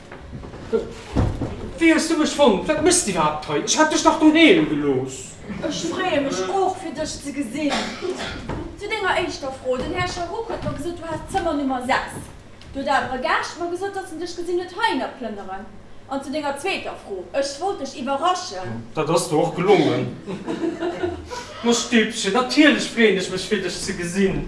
S1: Wéi hues du mech fonnt? Wat méchs de iwwerhaapt hei? Ech hat dech dach doheem gelooss! Ech freeë mech och, fir dech ze gesinn. Zu denger éischter Fro, Den Här Charroux huet mer gesot, du häss d'Zëmmer Nummer 6. Du huet awer e Gaascht mer gesot, datt en dech gesinn huet heihinner plënneren. An zu denger zweeter Fro, Ech wollt dech iwwerraschen. Dat ass der och gelongen. Mäi Stippchen, natierlech freeën ech mech, fir dech ze gesinn.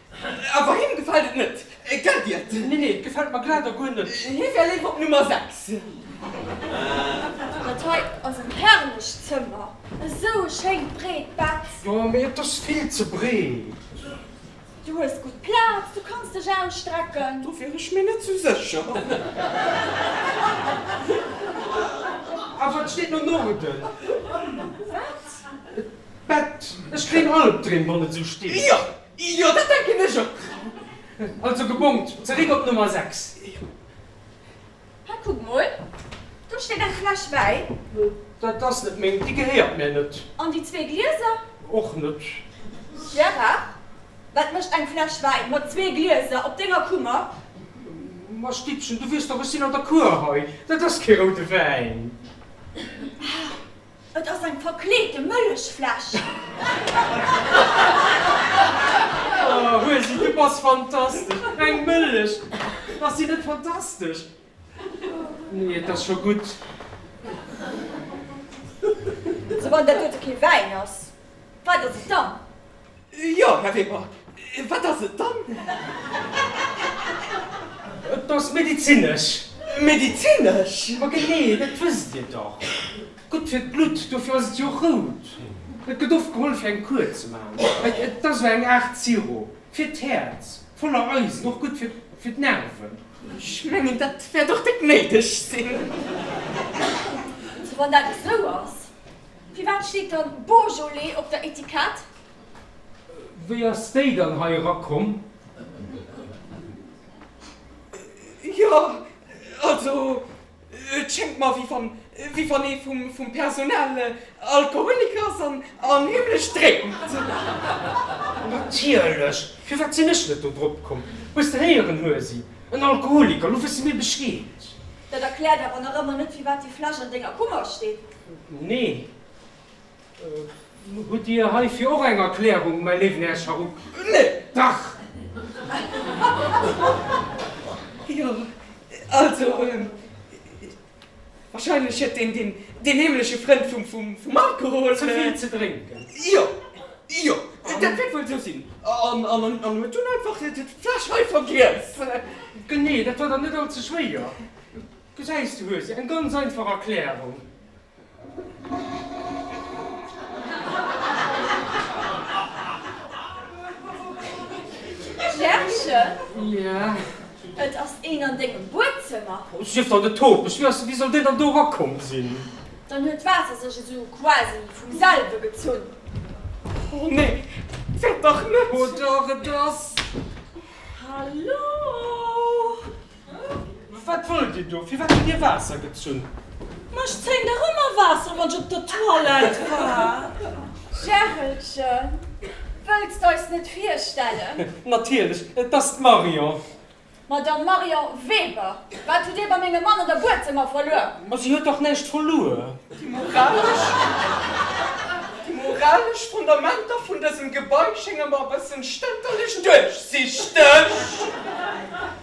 S1: Awer him gefält et net, gell Diet? Nee, nee, et gefält mer glat a guer net. Hie wär léiwer op Nummer 6. Dat hei ass en herrlecht Zëmmer, esou e schéint breet Bett. Jo, mee et ass vill ze breet. Du hues gutt Plaz, du kanns dech ausstrecken. Do wier ech mir net sou sécher. Awer et steet no Norden. Wat? D'Bett, ech kréien Albdreem, wann et esou steet. Jo, Jo, dat denken ech och. Also gebongt zeréck op Nummer 6. Hei, kuck mol, do steet eng Fläsch Wäin. Dat ass net meng, déi gehéiert mir net. An déi zwee Glieser? Och net. Gérard, wat mécht eng Fläsch Wäin mat zwee Glieser op denger Kummer? Ma Stippchen, du weess doch, ech sinn an der Cour hei. Dat ass kee roude Wäin. Ah! Et ass eng verkleete Mëllechfläsch! Huesi, du bass fantastesch! Eng Mëllech, ass déi net fantastesch? Nee, et ass scho gutt. Esou, wann dat dote kee Wäin ass, Wat ass et dann? Jo, Här Weber, wat ass et dann? Et ass medizinesch. Medizinesch? Ma genee, dat wësst Dir dach. Gutt fir d'Blutt, dofir ass et jo rout. Et gëtt oft geholl, fir eng Kur ze maachen. Et ass esou eng Aart Sirop fir d'Häerz, voller Eisen, och gutt fir d'Nerven. Ech mengen, dat wäert och déck néideg sinn. Also wann dat esou ass. Firwat steet dann Beaujolais op der Etikett? Wéi ass déi dann hei erakomm? Jo, also et schéngt mer, wéi wann ee vum Personal Alkoholiker ass an heemlech drénkt. Natierlech! Firwat sinn ech net do drop komm? Hues de héieren, Huesi? En Alkoholiker! Lo wësse mir Bescheed. Dat erkläert awer nach ëmmer net, firwat déi Fläsch an denger Kummer steet. Nee. Hutt Dir heifir och eng Erklärung, mäi léiwen Här Sharuk? Nee. Dach! Jo, also, wahrscheinlech huet deen deen heemleche Frënd vum Alkohol. Ze vill ze drénken. Jo, jo, dat wäert wuel esou sinn. An huet dunn einfach d'Fläsch hei vergiess. Genee, dat war dann net all ze schwéier. Gesäis, du hues eng ganz einfach Erklärung. Pierrchen, et ass een an dengem Buedzëmmer. Oh, sief dann de Topech lues, wéi soll deen dann do erakomm sinn? Dann huet d'Waasser sech esou quasi vum selwe gezunn. Oh, nee, dat wäert dach net. Oh, dach, et ass. Hallo! Wat wëllt Dir do? Firwat hutt Dir Waasser gezunn? Ma ech zéien dach ëmmer Waasser, wann ech op der Toilette war. Jhärelchen, wëlls d'eis net virstellen? Natierlech, et ass d'Marion. Madame Marion Weber, wat hutt Dir bei mengem Mann an der Buedzëmmer verluer? Ma si huet dach näischt verluer. Déi moralesch, déi moralesch Fondamenter vun dësem Gebai schénge mer e bëssen stënterlech duerchsichteg.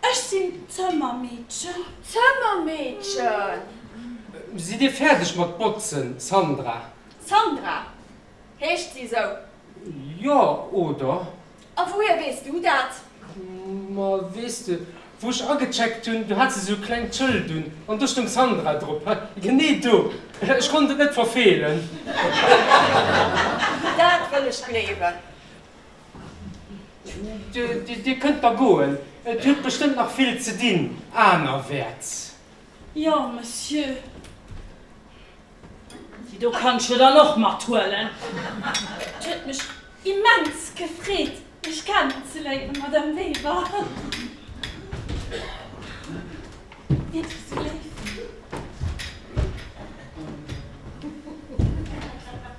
S1: Ech sinn d'Zëmmermeedchen. Zëmmermeedchen. Sidd Dir fäerdeg mat botzen, Sandra? Sandra, heescht si esou? Jo, oder? A wouhier weess du dat? Ma weess de, wou ech agecheckt hunn, do hat se esou e klengt Schëld un an do stoung Sandra drop. Hei, genee do. Ech konnt et net verfeelen. Dat wëll ech gleewen. Dir kënnt da goen, et huet bestëmmt nach vill ze dinn anerwäerts. Jo, Monsieur. Déi do kanns de dann och mathuelen. Et huet mech immens gefreet, Iech kennenzeléieren, Madame Weber. Wiert Dir esou léif?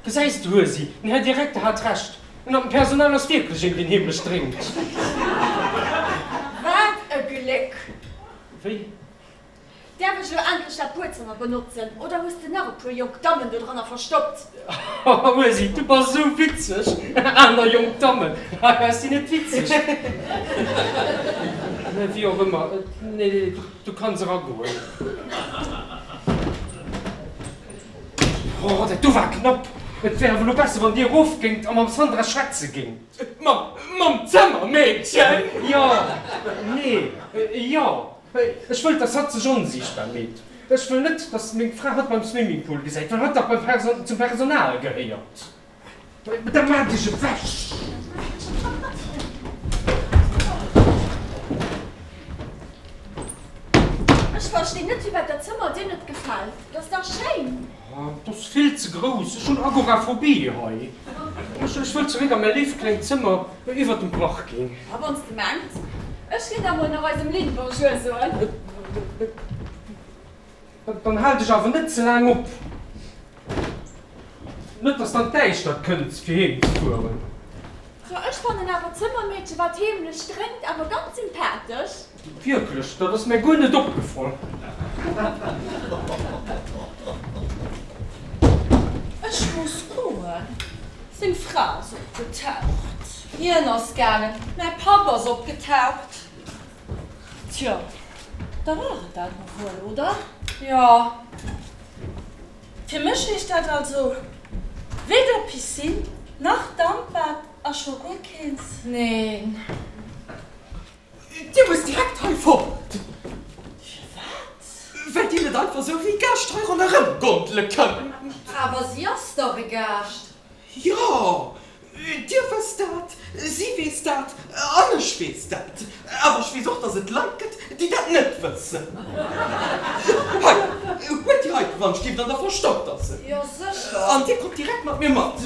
S1: Gesäis de, huet si den Här Direkter hat Recht. Un am Personal ass wierklech een deen heemlech drénkt. Wat e Gléck! Wéi? Däerf ech elo endlech dat Buedzëmmer benotzen oder hues de nach e puer jonk Dammen dodranner verstoppt? Haha Ursi, du bass esou witzeg! Aner jonk Dammen? Haha sinn net witzeg. Mä wéi och ëmmer, nee, du kanns eragoen. Oh, dat do war knapp! Et wär awer elo besser, wann Dir erof géingt a mam Sandra schwätze géingt. Mam Zëmmermeedchen? Jo, nee, jo. Ech wëll, dass hatt sech onsiichtbar meet. Ech wëll net, dass meng Fra hatt beim Swimmingpool gesäit, well hatt dach beim Perso-, zum Personal gehéiert. Ech verstinn net firwat dat Zëmmer dir net gefält. Dat ass dach schéin! Dat ass vill ze grouss. Ech hunn Agoraphobie hei. Ech wëll zeréck a mäi léift klengt Zëmmer iwwert dem Parking. A wann s de mengs. Ech ginn da mol nach eisem Lynn Bonjour soen. Dann hal dech awer net ze laang op, net dass dann d'Däischtert kënnt fir heem ze fueren. Jo, ech fannen awer d'Zëmmermeedche wat heemlech drénkt awer ganz sympathesch. Wierklech? Dat ass mär guer net opgefall. Ech muss goen, seng Fra ass opgetaucht. Hien ass gaangen, mä Papp ass opgetaucht. Tjo, da war et dat och wuel, oder? Jo. Fir mech heescht dat also weder Piscine nach Dampbad a scho guer keens. Neen. Dir musst direkt hei fort! Firwat? Well dir net einfach sou wéi Gäscht hei ronderëm gondele kënnt. Awer si ass dach e Gaascht! Jo, Dir wësst dat, si weess dat an ech weess dat. Awer ech weess och, dass et Leit gëtt, déi dat net wëssen. Hei, huelt déi hei dran, stierft an der Verstopperse an dir kommt direkt mat mir mat.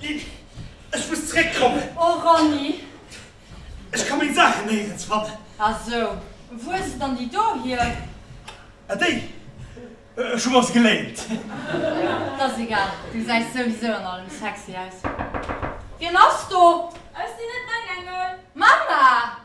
S1: Ech muss zréck kommen. Oh Ronny. Ech ka meng Saachen néierens fannen. Ah sou. Wou hues de dann déi do hier? Ah déi? Ech hu mer se geléint. T'ass egal, du säis souwisou an allem sexy aus. Wien ass do? Ass déi net meng Engel? Mama!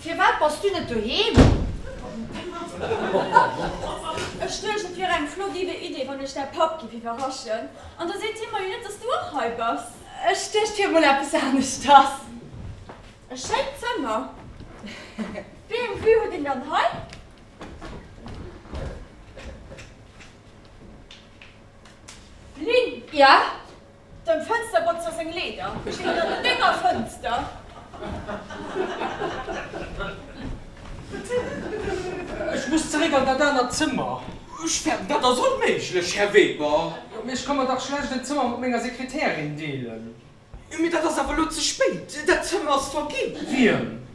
S1: Firwat bass du net doheem? Ech duecht, et wier eng flott Idee, wann ech däi Papp giff iwwerraschen. An da seet hie mer jo net, dass du och hei bass. Ech duecht, fir emol eppes aneschters. E schéint Zëmmer. Wéi eng Vue huet een dann hei? Lynn! Ja? Dem Fënsterbotzer seng Leeder stinn ënner denger Fënster. Ech muss zeréck an dat anert Zëmmer. Ech fänken, dat ass onméiglech, Här Weber. Jo, mee ech ka mer dach schlecht en Zëmmer mat menger Sekretärin deelen. Jo, mee dat ass awer elo ze spéit. Dat Zëmmer ass verginn. Wiem?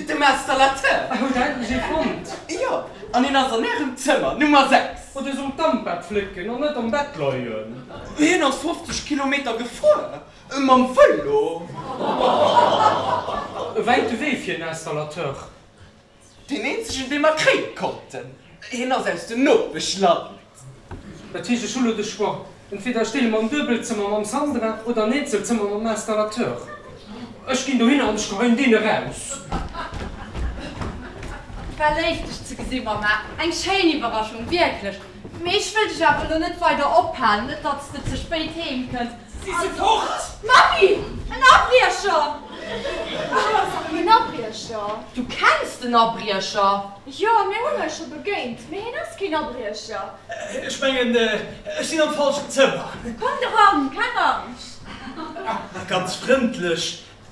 S1: Dem Installateur. Hutt Dir endlech ee fonnt? Jo, an hien ass an Ärem Zëmmer, Nummer 6. Hutt Dir sollt d'Dampbad flécken an net am Bett leien. Hien ass 50 Kilometer gefuer mam Vëlo. E wäite Wee fir en Installateur. Deen eenzegen, dee mer kréie konnten. Hien ass aus dem Nopeschland. Dat heescht, ech hu lo de Choix, entweder ech deele mer en Duebelzëmmer mam Sandra oder en Eenzelzëmmer mam Installateur. Ech ginn dohinner an ech geheien deen eraus. War léif dech ze gesinn Mama, eng schéin Iwwerraschung wierklech, mee ech wëll dech awer lo net weider ophalen, net datt s de ze spéit heem kënns. Si si fort! Mappi, en Abriecher! Wat ass dat fir en Abriecher? Du kenns den Abriecher? Jo, mir hunn hei scho begéint, mee hien ass keen Abriecher. Ech mengen, ech sinn am falschen Zëmmer. Kommt eran, keng Angscht. Ganz frëndlech,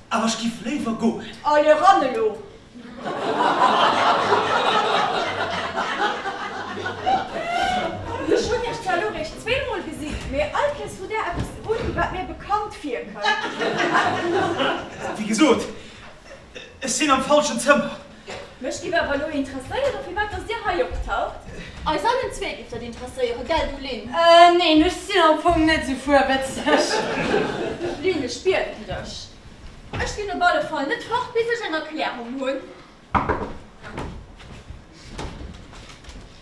S1: awer ech giff léiwer goen. Allez eran elo. Ech hunn iech zwar elo réischt zweemol gesinn, mee all Kees hutt där eppes un, wat mir bekannt virkënnt. Wéi gesot, ech sinn am falschen Zëmmer. Mech giff awer elo interesséieren firwat dass dir hei optaucht. Eis allen zwee giff dat interesséieren, gell du Lynn? Neen, ech sinn am Fong net sou fuerwëtzeg. Lynn, ech bieden dech, ech ginn op alle Fall net fort bis ech eng Erklärung hunn.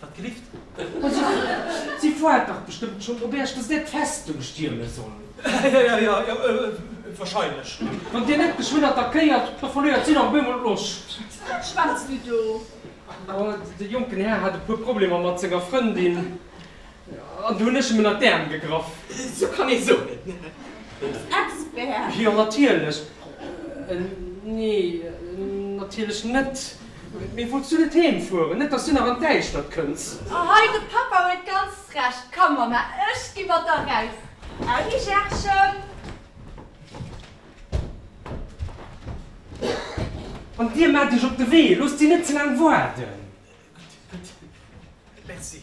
S1: Wat grifft? Si woart dach bestëmmt schon op Äech, dass där d'Festung stierme soll. Jo, wahrscheinlech. Wann Dir net geschwënn attackéiert, da verléiert si nach op eemol d'Loscht. Wat schwätzt Dir do? De jonken Här hat e puer Problemer mat senger Frëndin, an do hunn ech em ënnert d'Äerm gegraff. Sou kann ee sou net nennen. Als Expert? Jo, natierlech. Nee, natierlech net. Mee wollts du net heem fueren? Net dass du nach an d'Däischtert kënns. A hei, de Pappa huet ganz Recht. Komm, Mamma, ech gi mat der raus. Audi, Gerschen. An dir maacht iech op de Wee. Loosst si net ze laang waarden. Gutt, gutt. Merci.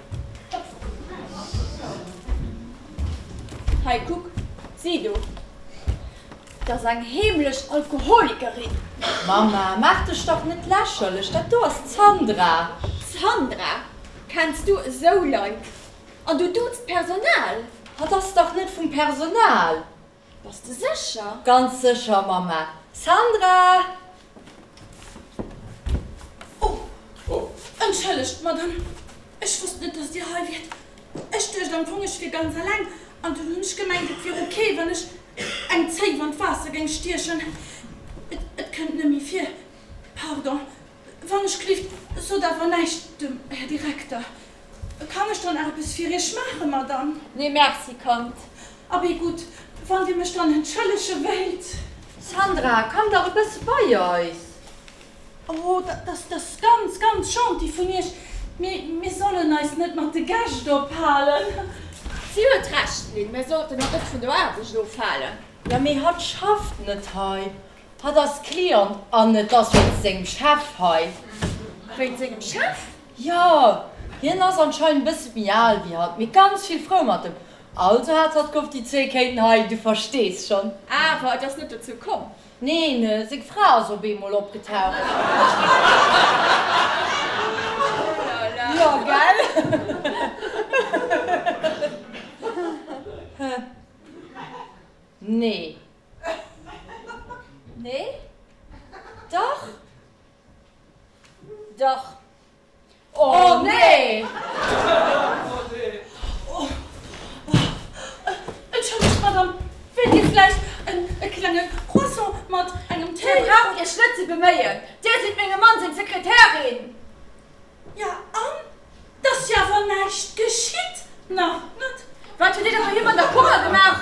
S1: Hei kuck, si do, dat ass eng heemlech Alkoholikerin. Mama, maach dech dach net lächerlech, dat do ass d'Sandra. Sandra? Kenns du esou Leit? An du duuzt d'Personal? Hatt ass dach net vum Personal. Bass de sécher? Ganz sécher, Mamma. Sandra! Oh, entschëllegt, Madame, ech wosst net, dass Dir hei wiert. Ech duecht am Fong, ech wier ganz alleng, an dunn hunn ech gemengt, et wier ok, wann ech eng Zéif an d'Waasser géing stiechen. Et kënnt net méi vir. Pardon, Wann ech klifft, sot awer näischt dem Här Direkter. Kann ech dann eppes fir Iech maachen, Madame? Nee, Merci, Kand. Abee, gutt, wann Dir mech dann entschëllege wéilt. Sandra, komm dach e bësse bei eis. Oh, dat ass ganz, ganz gentil vun Iech, mee mir sollen eis net mat de Gäscht ophalen. Si huet Recht, Lynn, mir sollten eis net vun der Aarbecht ofhalen. Jo, mee hatt schafft net hei. Hat ass Client an et ass wéinst sengem Chef hei. Wéinst sengem Chef? Jo, hien ass anscheinend e bësse méi al wéi hatt, mee ganz vill frou mat em. Also hat hatt gehofft, déi zwee kéinten hei, du verstees schonn. Awer et ass net dozou komm? Neen, seng Fra ass op eemol opgetaucht. Oulala. Jo, gell? Nee. Nee? Dach? Dach. Oh nee! Entschëllegt, Madame, wäert Dir vläicht en e klenge Croissant mat engem Téi. Dir braucht Iech net ze beméien, Dir sidd mengem Mann seng Sekretärin. Ja, an? T'ass jo awer näischt geschitt, nach net. Wat huet Dir da bei him an der Kummer gemaach?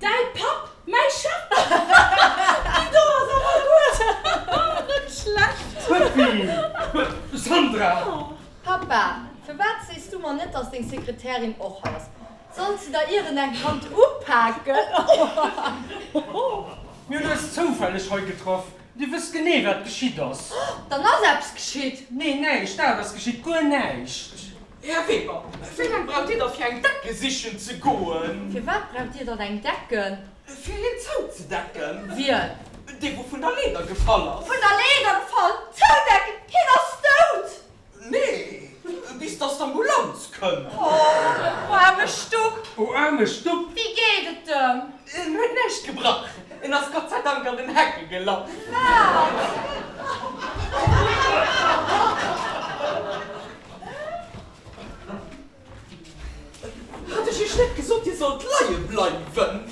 S1: Däi Papp, mäi Chef! Déi do ass awer gutt! Net schlecht! Puppi, Sandra! Pappa, firwat sees du mer net, dass deng Sekretärin och hei ass? Sollt se der ieren eng Hand upaken? Mir hunn eis zoufälleg hei getraff. Dir wësst genee, wat geschitt ass. Dann ass eppes geschitt! Nee, näischt! Dat ass geschitt, guer näischt! Här Weber, wéi laang braucht Dir da fir eng Decke sichen ze goen? Firwat braucht Dir dann eng Decke? Fir hien zouzedecken. Wien? Dee wou vun der Leeder gefall ass. Vun der Leeder gefall? Zoudecken, hien ass dout! Nee, bis dass d'Ambulanz kënn. Oh, o aarme Stupp! O aarme Stupp! Wéi geet et em? En huet näischt gebrach, en ass Gott sei Dank an den Hecke gelaff. Wat? Hat ech iech net gesot dir sollt leie bleiwen?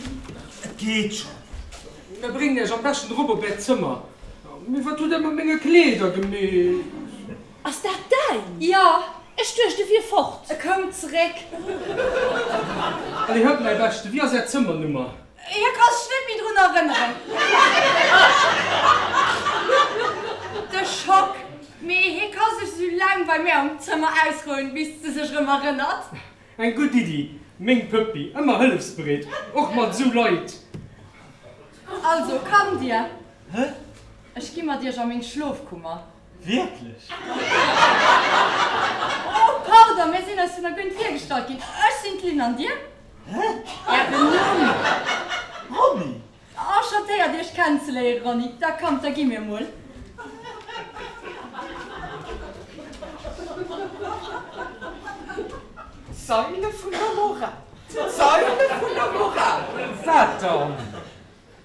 S1: Et geet schon. Mir bréngen iech am beschten erop op äert Zëmmer. Mee wat hutt där mat menge Kleeder gemeet? Ass dat däin? Jo, ech duecht e wier fort. E koum zeréck. Allez, huelt mäi beschten. Wéi ass är Zëmmernummer? Hie ka sech net méi drun erënneren. De Schock, mee hie ka sech esou laang bei mir am Zëmmer ausrouen, bis de sech erëm erënnert. Eng gutt Iddi, meng Pëppi, ëmmer hëllefsbereet, och mat esou Leit. Also, kommt Dir, ech gi mat Iech a meng Schlofkummer. Wierklech? Oh pardon, mir sinn eis vun der Guyne virgestallt ginn. Ech sinn d'Lynn, an dir? Hä? Ären Numm? Ronny. Enchantéiert iech kennenzeléieren Ronny, da kommt da gi mir mol. D'Saile vun der Moral, d'Saile vun der Moral! Wat dann?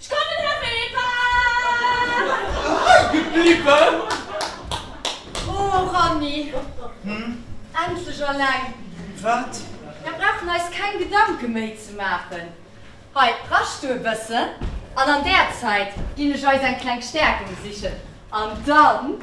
S1: Ech kann den Här Weber! Hei gebliwwen! Oh Ranni, endlech alleng! Wat? Mer brauchen eis keng Gedanke méi ze maachen. Hei, rasch du e bëssen an an där Zäit ginn ech eis eng kleng Stäerkung sichen an dann.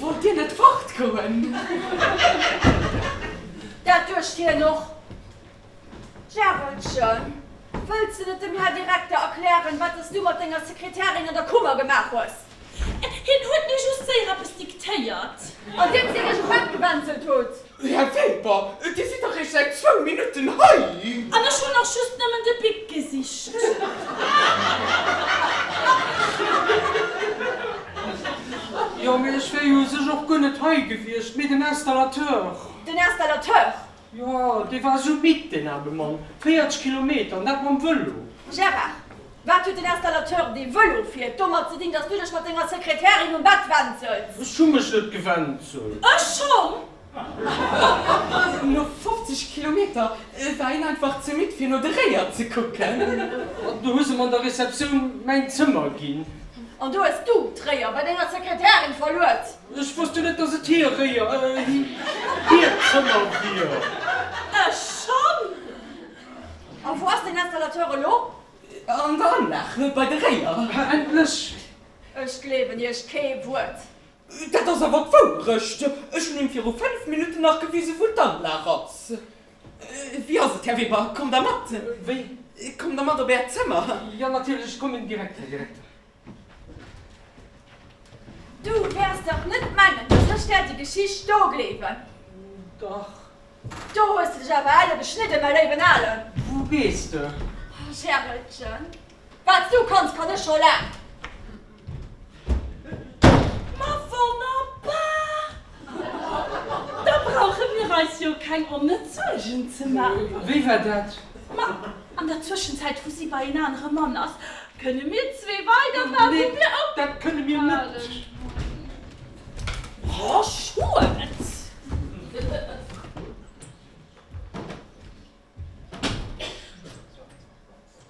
S1: Wollt Dir net fortgoen? Dat duecht hien och. D'Järelchen, wëlls de net dem Här Direkter erklären, wat dass du mat denger Sekretärin an der Kummer gemaach hues? Hien huet mir just séier eppes diktéiert. Andeems hie sech um Bett gewänzelt huet. Här Weber, Dir sidd dach eréischt säit zwou Minutten hei. An ech hunn och just nëmmen de Bic gesicht. Jo, mee ech wär jo u sech och guer net hei gewiescht, mee den Installateur. Den Installateur? Jo, dee war esou midd, deen aarme Mann. 40 Kilometer, an dat mam Vëlo! Gérard, wat huet den Installateur, dee Vëlo fiert, domat ze dinn, dass du dech mat denger Sekretärin um Bett wänzels? Ech hu mech net gewänzelt. Ech schonn! No 50 Kilometer war een einfach ze midd, fir no de Réier ze kucken. An du hues em an der Receptioun mäin Zëmmer ginn. An do hues du d'Réier bei denger Sekretärin verluet. Ech wosst jo net, dass et hir Réier, hir Zëmmer wier. Ech schonn! A wou ass den Installateur elo? An der Anlag, bei de Réier. Endlech! Ech gleewen Iech kee Wuert. Dat ass awer d'Wourecht. Ech hunn him viru fënnf Minutten nach gewisen, wou d'Anlag ass. Wéi ass et, Här Weber, kommt Der mat? Wéi? Kommt Der mat op Äert Zëmmer? Jo, natierlech, ech kommen direkt, Här Direkter. Du wäers dach net mengen, dass ech der déi Geschicht do gleewen? Dach. Do hues de dech awer elle geschnidden, mäi léiwen Alen. Wou gees de? Oh, Gerelchen, wat s du kanns, kann ech scho laang. Ma wonnerbar! Da brauche mir eis jo keng onnëtz Suergen ze maachen. Wéi war dat? Ma, an der Zwëschenzäit, wou si bei een anere Mann ass, kënne mir zwee weiderman, wou mir ophaalen. Nee, dat kënne mir net. Oh, schued!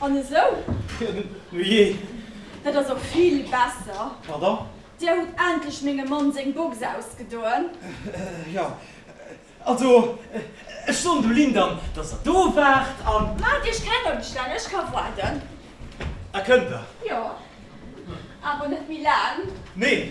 S1: An esou? Nu jee. Dat ass och vill besser. Pardon? Dir hutt endlech mengem Mann seng Box ausgedoen. Jo. Also, ech soen dem Lyndon, dass der do waart an. Maacht Iech keng Ëmstänn, ech ka waarden. Ah, kënnt der? Jo. Awer net méi laang. Neen.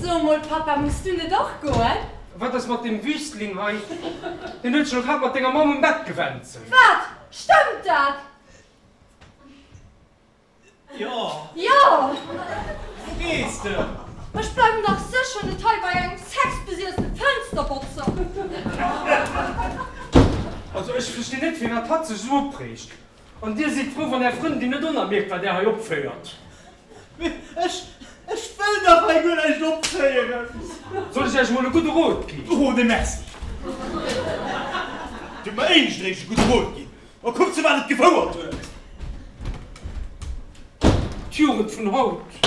S1: So emol, Papa, muss du net och goen? Wat ass mat deem Wüstling hei? Deen huet sech elo grad mat denger Mamm um Bett gewänzelt. Wat? Stëmmt dat? Jo. Jo! Wou gees de? Ech bleiwen dach sécher net hei bei engem sexbesiefte Fënsterbotzer! Also, ech verstinn net, firwat hatt sech esou opréegt. An dir sidd frou, wann är Frëndin net onermierkt wat där hei opféiert? Mee ech, ech wëll dach hei guer näischt opféieren! Soll ech äech emol e gudde Rot ginn? Oh, nee merci! Giff mer éischt eréischt e gudde Rot ginn, a kuck zu wat et gefouert huet! D'Jugend vun haut!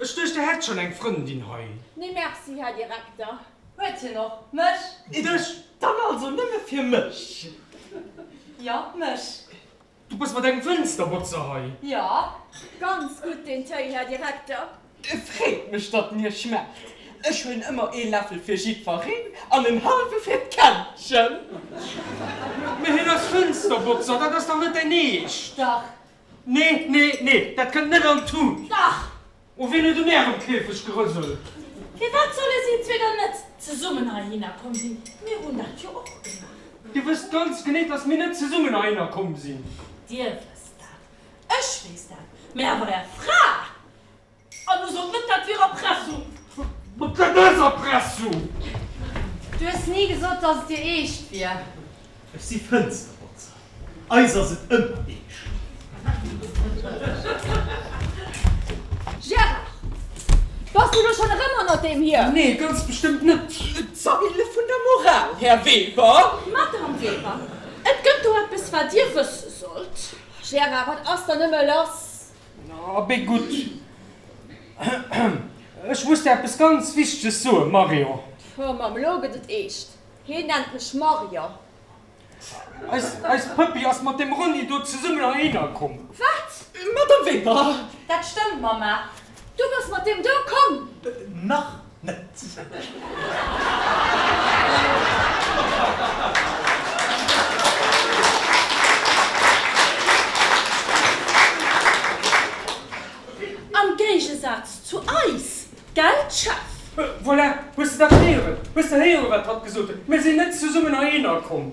S1: Ech duecht der hätt schon eng Frëndin hei. Nee merci Här Direkter, huet hien och mech? Et duecht dann also nëmme fir mech? Jo mech. Du bës mat engem Fënsterbotzer hei? Jo, ganz gutt den Téi Här Direkter. Et freet mech datt en iech schmaacht. Ech huelen ëmmer ee Läffel fir jiddfereen an en hallwe fir d'Kännchen. Mee hien ass Fënsterbotzer, dat ass dach net däin Eescht? Dach, Nee, nee, nee, dat kënnt net an d'Tut! Dach! O wien huet un ärem Käfeg gerëselt? Firwat solle si zwee dann net zesummen heihinner komm sinn? Mir hunn dat jo och gemaach! Dir wësst ganz genee, dass mir net zesummen heihinner komm sinn! Dir wësst dat, ech weess dat, mä awer är Fra! An du sot net dat wier Erpressung. Mat dat ass Erpressung! Du hues ni gesot dass et dir eescht wier. Ech si Fënsterbotzer, eis ass et ëmmer eescht. Gérard, bass du lo schonn erëm hanner deem hier? Nee, ganz bestëmmt net. D'Famill vun der Moral, Här Weber. Madame Weber, et gëtt do eppes wat dir wësse sollt. Gérard, wat ass dann nëmme lass? Abee gutt. Ech muss der eppes ganz Wichteges soen, Marion. Oh, mam elo gëtt et eescht. Hien nennt mech Marion. Eis Pëppi ass mat dem Ronni do zesummen heihinner komm. Wat? Madame Weber! Dat stëmmt, Mama. Du bass mat deem do komm? Nach Am Géigesaz zu eis, gell Jeff? Voilà, hues de dat héieren? Hues de héieren, wat hatt gesot huet? Mir sinn net zesummen heihinner komm.